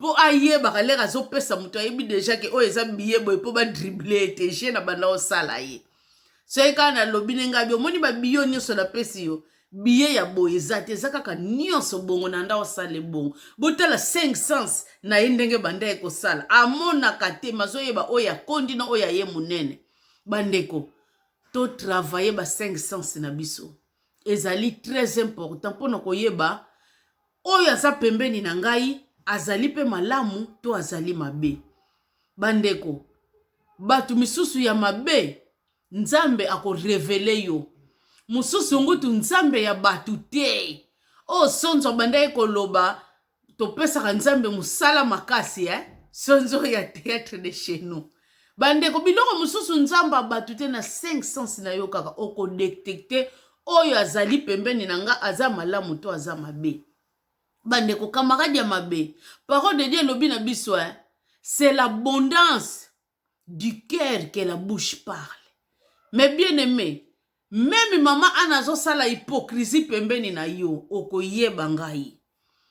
mpo ayebaka lere azopesa moto ayebi deja ke oyo eza biye boye mpo badrible ete je na banda osala ye soki kaka nalobi ndenge abi omoni babiyo nyonso napesi yo biye ya boye eza te eza kaka nyonso bongo na nda osala ebongo botala 5 sens na ye ndenge banda ye kosala amonaka te mazoyeba oyo akondi na oyo aye monene bandeko totravaille ba 5 sens na biso ezali très important mpo na koyeba Oyo aza pembeni na ngai azali mpe malamu to azali mabe? Bandeko, bato misusu ya mabe Nzambe akorevele yo. Mosusu ngutu Nzambe ya bato te. Oyo Sonzo abandaki koloba topesaka Nzambe mosala makasi eh? Sonzo ya theatre de chez nous. Bandeko biloko mosusu nzambe ya bato te na 5 sens na yo kaka okodetecte oyo azali pembeni na nga aza malamu to aza mabe bandeko kamarade ya mabe parole de dieu elobi na biso eh? c'est l'abondance du cœur que la bouche parle mais bien aimé Meme mama Anna azosala hypocrisie pembeni na yo, okoyeba ngai.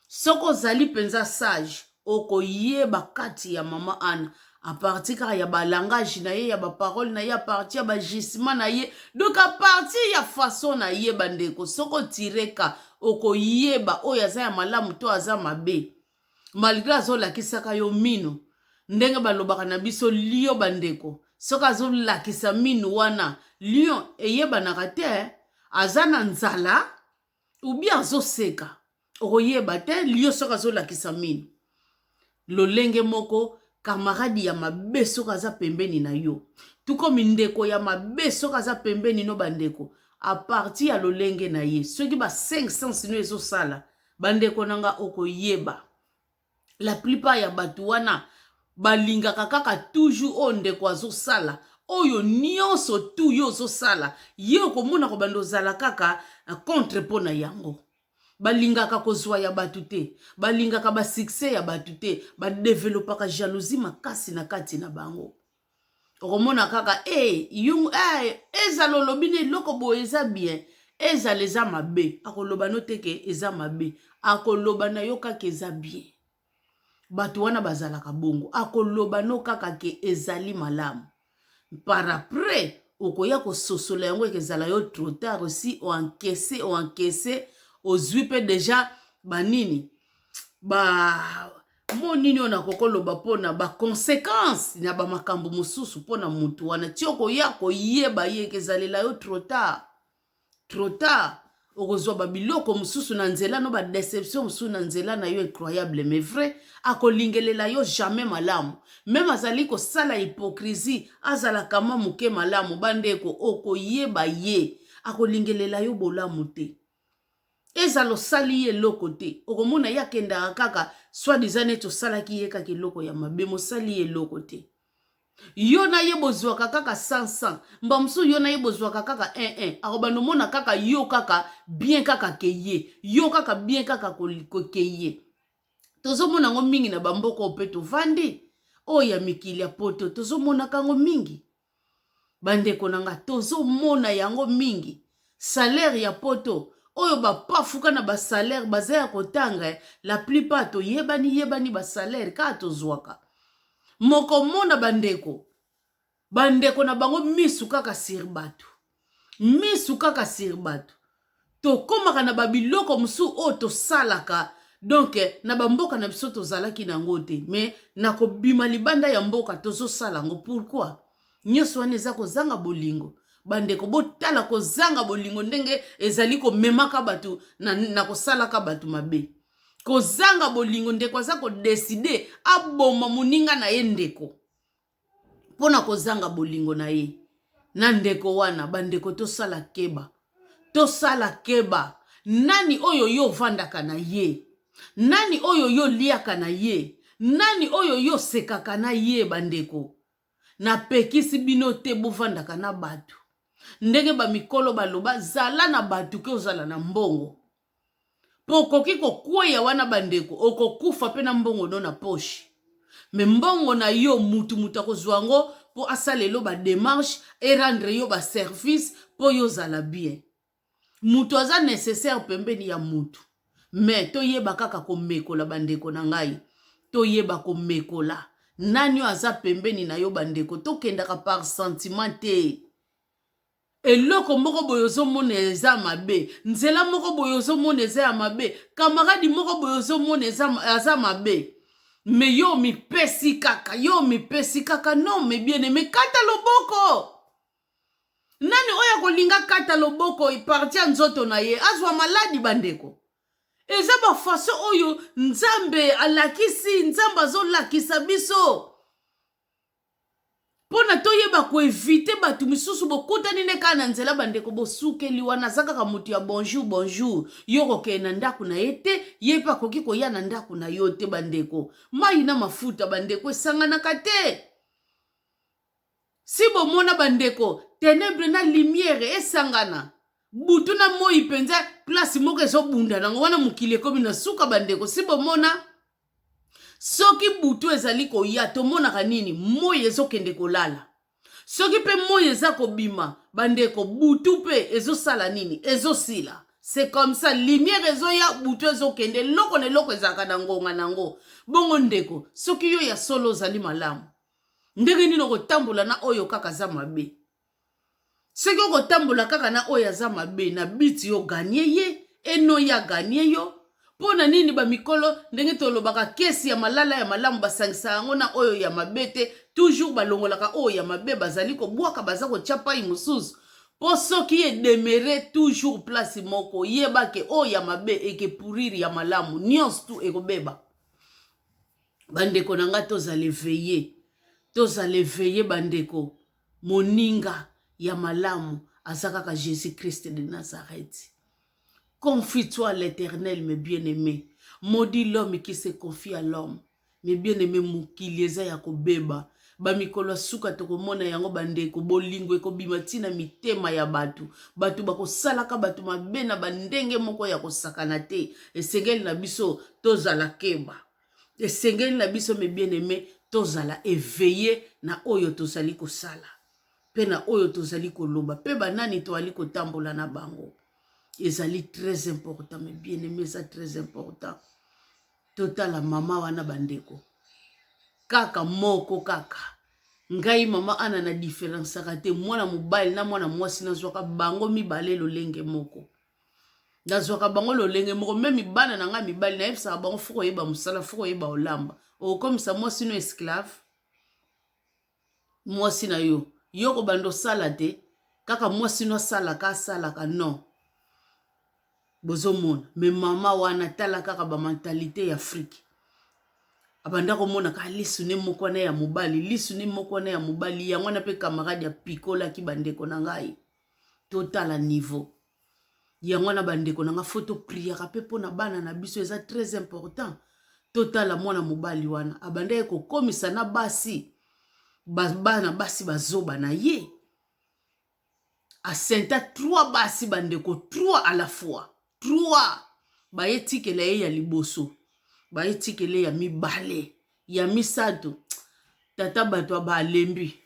Soki ozali mpenza sage, okoyeba kati ya mama Anna à partir kaka ya ba langage na ye ya ba parole na ye à partir ya ba gisement na ye donc à partir ya façon na ye bandeko soki otire ka okoyeba oyo aza ya malamu to aza mabe malgre azolakisaka yo mino ndenge balobaka na biso lio bandeko soki azolakisa minu wana lion eyebanaka te aza na nzala ubi azoseka okoyeba te lio soki azolakisa minu lolenge moko kamaradi ya mabe soki aza pembeni na yo tuko mindeko ya mabe soki aza pembeni no bandeko aparti ya lolenge na ye soki ba 5 sens no ezosala Bandeko na nga okoyeba la plupart ya bato wana balingaka kaka toujours oyo ndeko azosala oyo nyonso tu yo ozosala ye okomona kobanda ozala kaka eh, contre mpo na yango balingaka kozwa ya bato te balingaka basuccès ya bato te badevelopaka jalousie makasi na kati na bango okomona kaka e yung e ezala olobi na eloko boye eza bien ezala eza mabe akoloba no te ke eza mabe akoloba na yo kaka eza bien bato wana bazalaka bongo akoloba no kaka ke ezali malamu par après okoya kososola yango eke ezala yo trop tard osi oankese oankese ozwi mpe deja banini ba mo nini oyo nakoki koloba mpona baconsequence na bamakambo mosusu mpona motu wana ti okoya koyeba ye ekezalela yo trop tard trop tard okozwa babiloko mosusu na nzela no badeception mosusu na nzela na yo incroyable mais vrai akolingelela yo jamais malamu meme azali kosala hypocrisie azala kama moke malamu bandeko okoyeba ye akolingelela yo bolamu te ezala osali ye eloko te okomona ye akendaka kaka swadiza neti osalaki ye kaka eloko ya mabe mosali ye eloko te yo na ye bozwaka kaka 100 mba mosusu yo na ye bozwaka kaka 11 akobanda omona kaka yo kaka bien kaka ke ye yo kaka bien kaka ke ye tozomona yango mingi na bamboka oyo mpe tovandi oyo ya mikili ya poto tozomonaka yango mingi bandeko na nga tozomona yango mingi salaire ya poto oyo bapafuka na basalaire baza ya kotanga eh, la plupart toyebani yebani basalaire kaka tozwaka mokomona bandeko bandeko na bango misu kaka sir bato misu kaka sur bato tokomaka na babiloko mosusu oyo tosalaka donk na bamboka na biso tozalaki na yango te me na kobima libanda ya mboka tozosala yango pourkui nyonso wana eza kozanga bolingo bandeko botala kozanga bolingo ndenge ezali komemaka bato na, na kosalaka bato mabe kozanga bolingo ndeko aza kodeside aboma moninga na ye ndeko mpo na kozanga bolingo na ye na ndeko wana. Bandeko, tosala keba, tosala keba. Nani oyo yo ovandaka na ye? Nani oyo yo oliaka na ye? Nani oyo yo osekaka na ye? Bandeko, napekisi bino te bovandaka na bato ndenge bamikolo baloba, zala na bato ke ozala na mbongo. mpo okoki kokweya wana bandeko, okokufa mpe na mbongo no na poche me mbongo na yo mutu mutu akozwa yango mpo asala elo ba demarche e rendre yo ba service mpo yo ozala bien. Mutu aza necessaire pembeni ya mutu me toyeba kaka komekola bandeko na ngai, toyeba komekola nani oyo aza pembeni na yo bandeko, tokendaka par sentiment te. Eloko moko boye ozo mona eza ya mabe, nzela moko boye ozo mona eza ya mabe, camarade moko boye ozo mona eza aza mabe. Mais yo omipesi kaka, yo omipesi kaka, non mes bien aime kata loboko. Nani oyo akolinga kata loboko parti ya nzoto na ye azwa maladi bandeko? eza bafaso oyo nzambe alakisi nzambe azolakisa biso mpo na toyeba koevite bato misusu bokutani nde kaka na nzela bandeko bosukeli wana aza kaka moto ya bonjour bonjour yo kokende na ndako na ye te ye mpe akoki koya na ndako na yo te bandeko mai na mafuta bandeko esanganaka te si bomona bandeko tenebre na limiere esangana butu na moi mpenza place moko ezobunda nango wana mokili ekomi na suka bandeko si bomona soki butu ezali koya tomonaka nini moi ezokende kolala soki mpe moi eza kobima bandeko butu mpe ezosala nini ezosila c'est comme ça lumière ezoya butu ezokende eloko na eloko ezalaka na ngonga na yango bongo ndeko soki yo ya solo ozali malamu ndenge nini okotambola na oyo kaka aza mabe soki okotambola kaka na oyo aza mabe na biti yo ganye ye eno ya ganye yo mpo na nini bamikolo ndenge tolobaka kesi ya malala ya malamu basangisa yango na oyo ya mabe te toujours balongolaka oyo ya mabe bazali kobwaka baza kotya pai mosusu mpo soki edemere toujours place moko yeba ke oyo ya mabe eke pourrir ya malamu nyonso tu ekobeba bandeko na ngai tozala eveye tozala eveye bandeko Moninga ya malamu aza kaka Jesus Christ de Nazareth. Confie-toi à l'Eternel mes bien-aimés. Maudit l'homme qui se confie à l'homme. Mes bien-aimés, mokili eza ya kobeba. bamikolo ya suka tokomona yango bandeko bolingo ekobima ntina mitema ya bato bato bakosalaka bato mabe na bandenge moko ya kosakana te esengeli na biso tozala keba esengeli na biso mes bien aime tozala eveille na oyo tozali kosala mpe na oyo tozali koloba mpe banani toali kotambola na bango ezali très important mes bien aime eza très important totala mama wana bandeko kaka moko kaka ngai mama ana na diferensaka te mwana mobali na mwana mwasi nazwaka bango mibale lolenge moko nazwaka bango lolenge moko meme bana na ngai mibali nayebisaka bango fo koyeba mosala fo koyeba olamba okomisa mwasi no esclave mwasi na yo yo kobanda osala te kaka mwasi no asalaka asalaka non bozomona me mama wana tala kaka bamentalité ya afrike abanda komonaka lisu ne moko wana ya mobali lisu ne moko wana ya mobali yango wana mpe camarade apikolaki bandeko na ngai totala niveau yango wana bandeko na nga fo topriaka mpe mpo na bana na biso eza très important totala mwana mobali wana abandaki kokomisa na basi bana basi bazoba na ye asenta 3 basi bandeko 3 à la fois 3 baye tikela ye ya liboso baye tikela ya mibale ya misato tata bato abalembi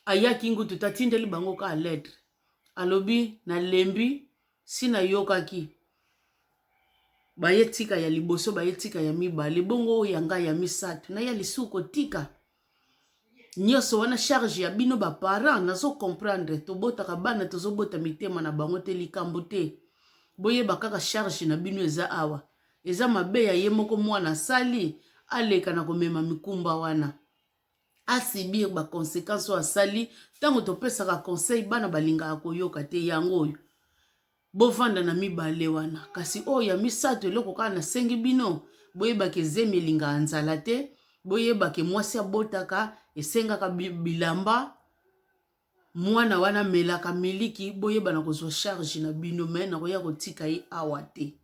ayaki ngutu tatindeli bango ka lettre alobi nalembi si nayokaki baye tika ya liboso baye tika ya mibale bongo oyo ya ngai ya misato na ya lisusu kotika nyonso wana charge ya bino ba parents nazo comprendre tobotaka bana tozobota mitema na bango te likambo te boyeba kaka charge na bino eza awa eza mabe ya ye moko mwana asali aleka na komema mikumba wana asibir baconsequence oyo asali ntango topesaka conseil bana balingaka koyoka te yango oyo bovanda na mibale wana kasi oyo ya misato eloko kaka nasengi bino boyebaka ezemi elingaka nzala te boyebake mwasi abotaka esengaka bilamba mwana wana amelaka miliki boyebana kozwa charge na bino me nakoya kotika ye awa te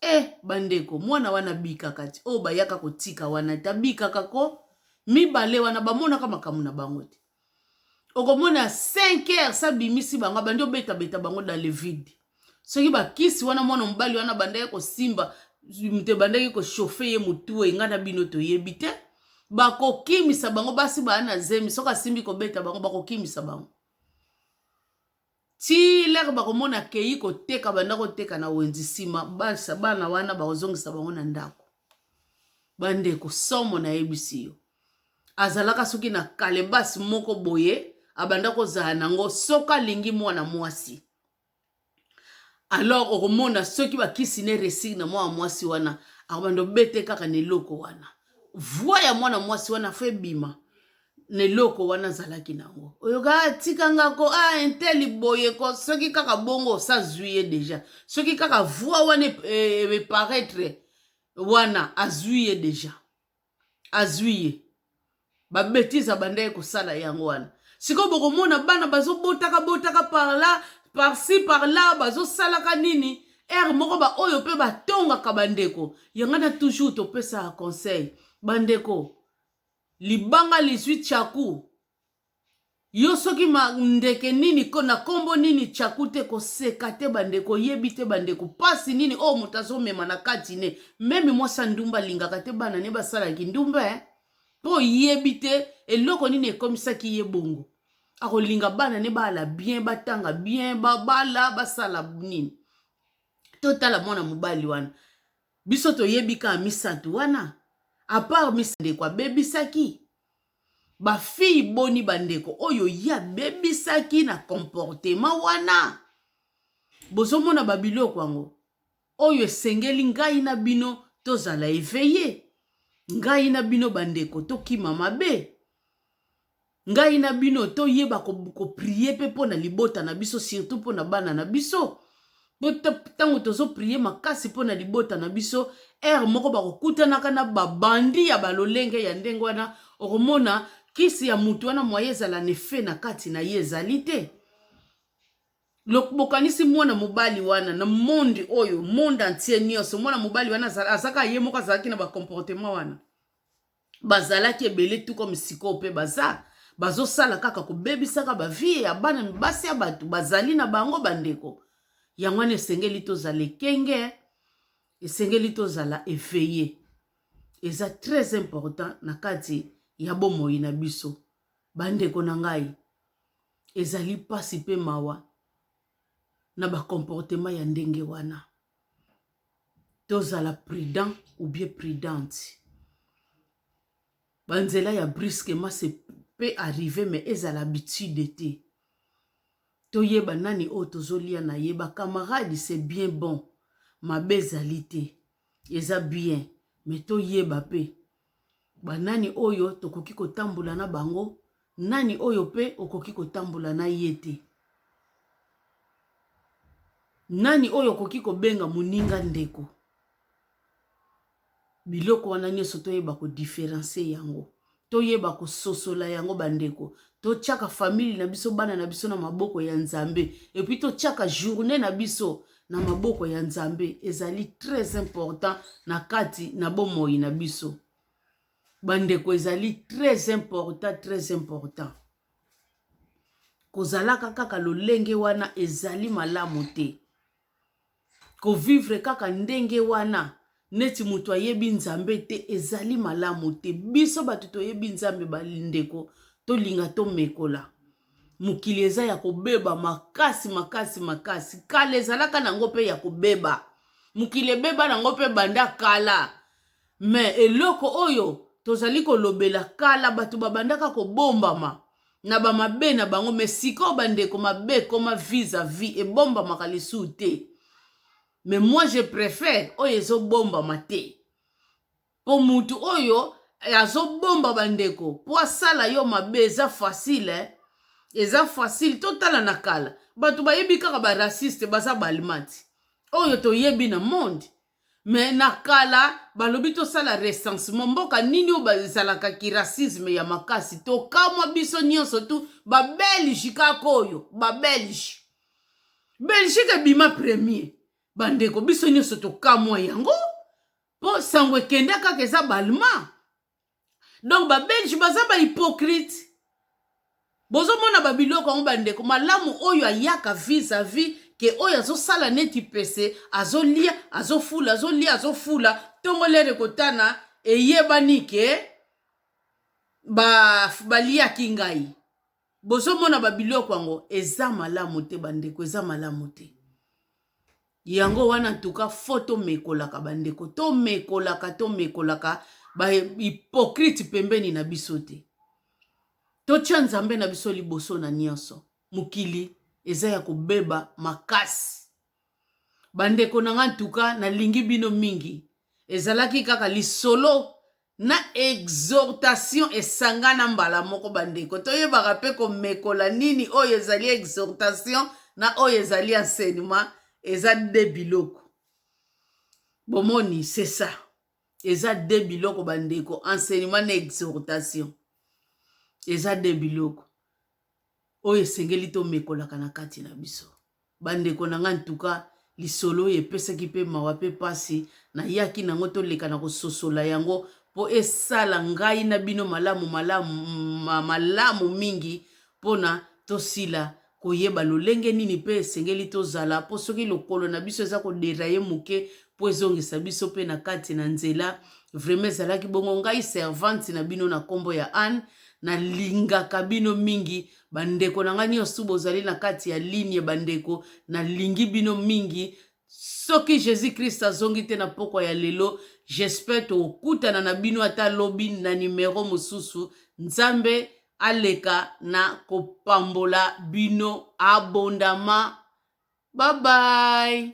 e bandeko mwana wana abikaka ti oyo bayaka kotika wana te abikaka ko mibale wana bamonaka makambo na bango te okomona 5 heures sa bimisi bango abandi obeta beta bango dans le vide soki bakisi wana mwana mobali wana abandaki kosimba moto ebandaki kochauffe ye motu enga na bino toyebi te bakokimisa bango basi baa na zemi soki asimbi kobeta bango bakokimisa bango Ti lere bakomona akeyi koteka banda koteka na wenzi nsima basa bana wana bakozongisa bango na ndako bandeko somo nayebisi yo azalaka soki na kalebasi moko boye abanda kozala nango soki alingi mwana mwasi alors okomona soki bakisi ne resig na mwana mwasi wana akobanda obete kaka na eloko wana voi ya mwana mwasi wana fo ebima na eloko wana azalaki nango oyoka ah, tika nga ko a ah, inteli boye ko soki kaka bongo osazwi ye deja soki kaka voi wana eparaitre e, e, e wana azwi ye deja azwi ye babetize abandaki kosala yango wana sikoyo bokomona bana bazobotaka botaka parla parci parla bazosalaka nini ere moko baoyo mpe batongaka bandeko yanga na toujours topesaka conseil bandeko Libanga lizui tshaku yo soki ma ndeke nini ko na kombo nini tshaku te koseka te bandeko oyebi te bandeko pasi nini oyo moto azomema na kati ne meme mwasi ya ndumba alingaka te bana ne basala kindumba eh? mpo oyebi te eloko nini ekomisaki ye bongo akolinga bana ne baala bien batanga bien babala basala nini totala mwana mobali wana Biso toyebi kaka misatu wana apart mis ndeko abebisaki ba fille boni ba ndeko oyo ye abebisaki na comportement wana bozomona ba biloko yango oyo esengeli ngai na bino tozala eveille ngai na bino bandeko tokima mabe Ngai na bino toyeba koprie ko mpe mpo na libota na biso surtout mpo na bana na biso ntango tozoprie makasi mpo na libota na biso ere moko bakokutanaka na babandi ya balolenge ya ndenge wana okomona kisi ya motu wana moye ezala na efe na kati na ye ezali te bokanisi mwana mobali wana na monde oyo monde entier nyonso mwana mobali wana azaka ye moko azalaki na bacomportement wana bazalaki ebele tout comme sikoyo mpe baza bazosala kaka kobebisaka bavie ya bana mibasi ya bato bazali na bango bandeko yango wana esengeli tozala ekenge esengeli tozala eveye eza très important na kati ya bomoi na biso bandeko na ngai ezali mpasi mpe mawa na bakomportema ya ndenge wana tozala prudent ou bien prudente ba nzela ya brusquement se pe arrive me ezala habitude te toyeba nani oyo tozolia na ye ba camarade se bien bon mabe ezali te eza bien me toyeba pe banani oyo tokoki kotambola na bango nani oyo mpe okoki kotambola na ye te nani oyo okoki kobenga moninga ndeko biloko wana nyonso toyeba kodiferencie yango toyeba kososola yango bandeko totyaka famille na biso bana na biso na maboko ya nzambe epuis totyaka journée na biso na maboko ya nzambe ezali très important na kati na bomoi na biso bandeko ezali très important très important kozalaka kaka lolenge wana ezali malamu te kovivre kaka ndenge wana neti moto ayebi nzambe te ezali malamu te biso bato toyebi nzambe bandeko tolinga tomekola mokili eza ya kobeba makasi makasi makasi kala ezalaka nango mpe ya kobeba mokili ebeba nango mpe banda kala me eloko oyo tozali kolobela kala bato babandaka kobombama na bamabe na bango me sikoyo bandeko mabe ekoma vis a vis ebombamaka lisusu te mais moi je prefère oyo ezobombama te mpo mutu oyo azobomba bandeko mpo asala yo mabe eza facile eh? eza facile totala na kala bato bayebi kaka baraciste baza baalimati oyo toyebi na monde me na kala balobi tosala recensement mboka nini oyo bazalaka kiracisme ya makasi tokamwa biso nyonso tu babelge kaka oyo babelge belgique ebima premier bandeko biso nyonso tokamwa yango mpo sango ekenda kaka eza balma donc babelge baza bahypocrite bozomona babiloko yango bandeko malamu oyo ayaka vis a vis ke oyo azosala neti pese azolia azofula azolia azofula ntongo lere kotana eyebani ke baliaki ba ngai bozomona babiloko yango eza malamu te bandeko eza malamu te yango wana ntuka fo tomekolaka bandeko tomekolaka tomekolaka bahypocrite pembeni na biso te totya nzambe na biso liboso na nyonso mokili eza ya kobeba makasi bandeko na nga ntuka nalingi bino mingi ezalaki kaka lisolo na exhortation esangana mbala moko bandeko. Toyebaka mpe komekola nini oyo ezali exhortation na oyo ezali enseignement, eza de biloko. Bomoni, c'est ça. Eza de biloko bandeko, enseignement na exhortation. Eza de biloko oyo esengeli tomekolaka na kati na biso. Bandeko na nga en tout cas lisolo oyo epesaki pe mawa pe pasi na yaki na ngo toleka na kososola yango po esala ngai na bino malamu malamu malamu mingi pona tosila koyeba lolenge nini pe esengeli tozala po soki lokolo na biso eza ko derailler moke po ezongisa biso pe na kati na nzela vraiment ezalaki bongo ngai servante na bino na kombo ya Anne nalingaka bino mingi bandeko na ngai nyonso bozali na kati ya linie bandeko nalingi bino mingi soki jésus christ azongi te na pokwa ya lelo j'espère tokutana na bino ata lobi na nimero mosusu nzambe aleka na kopambola bino abondama babai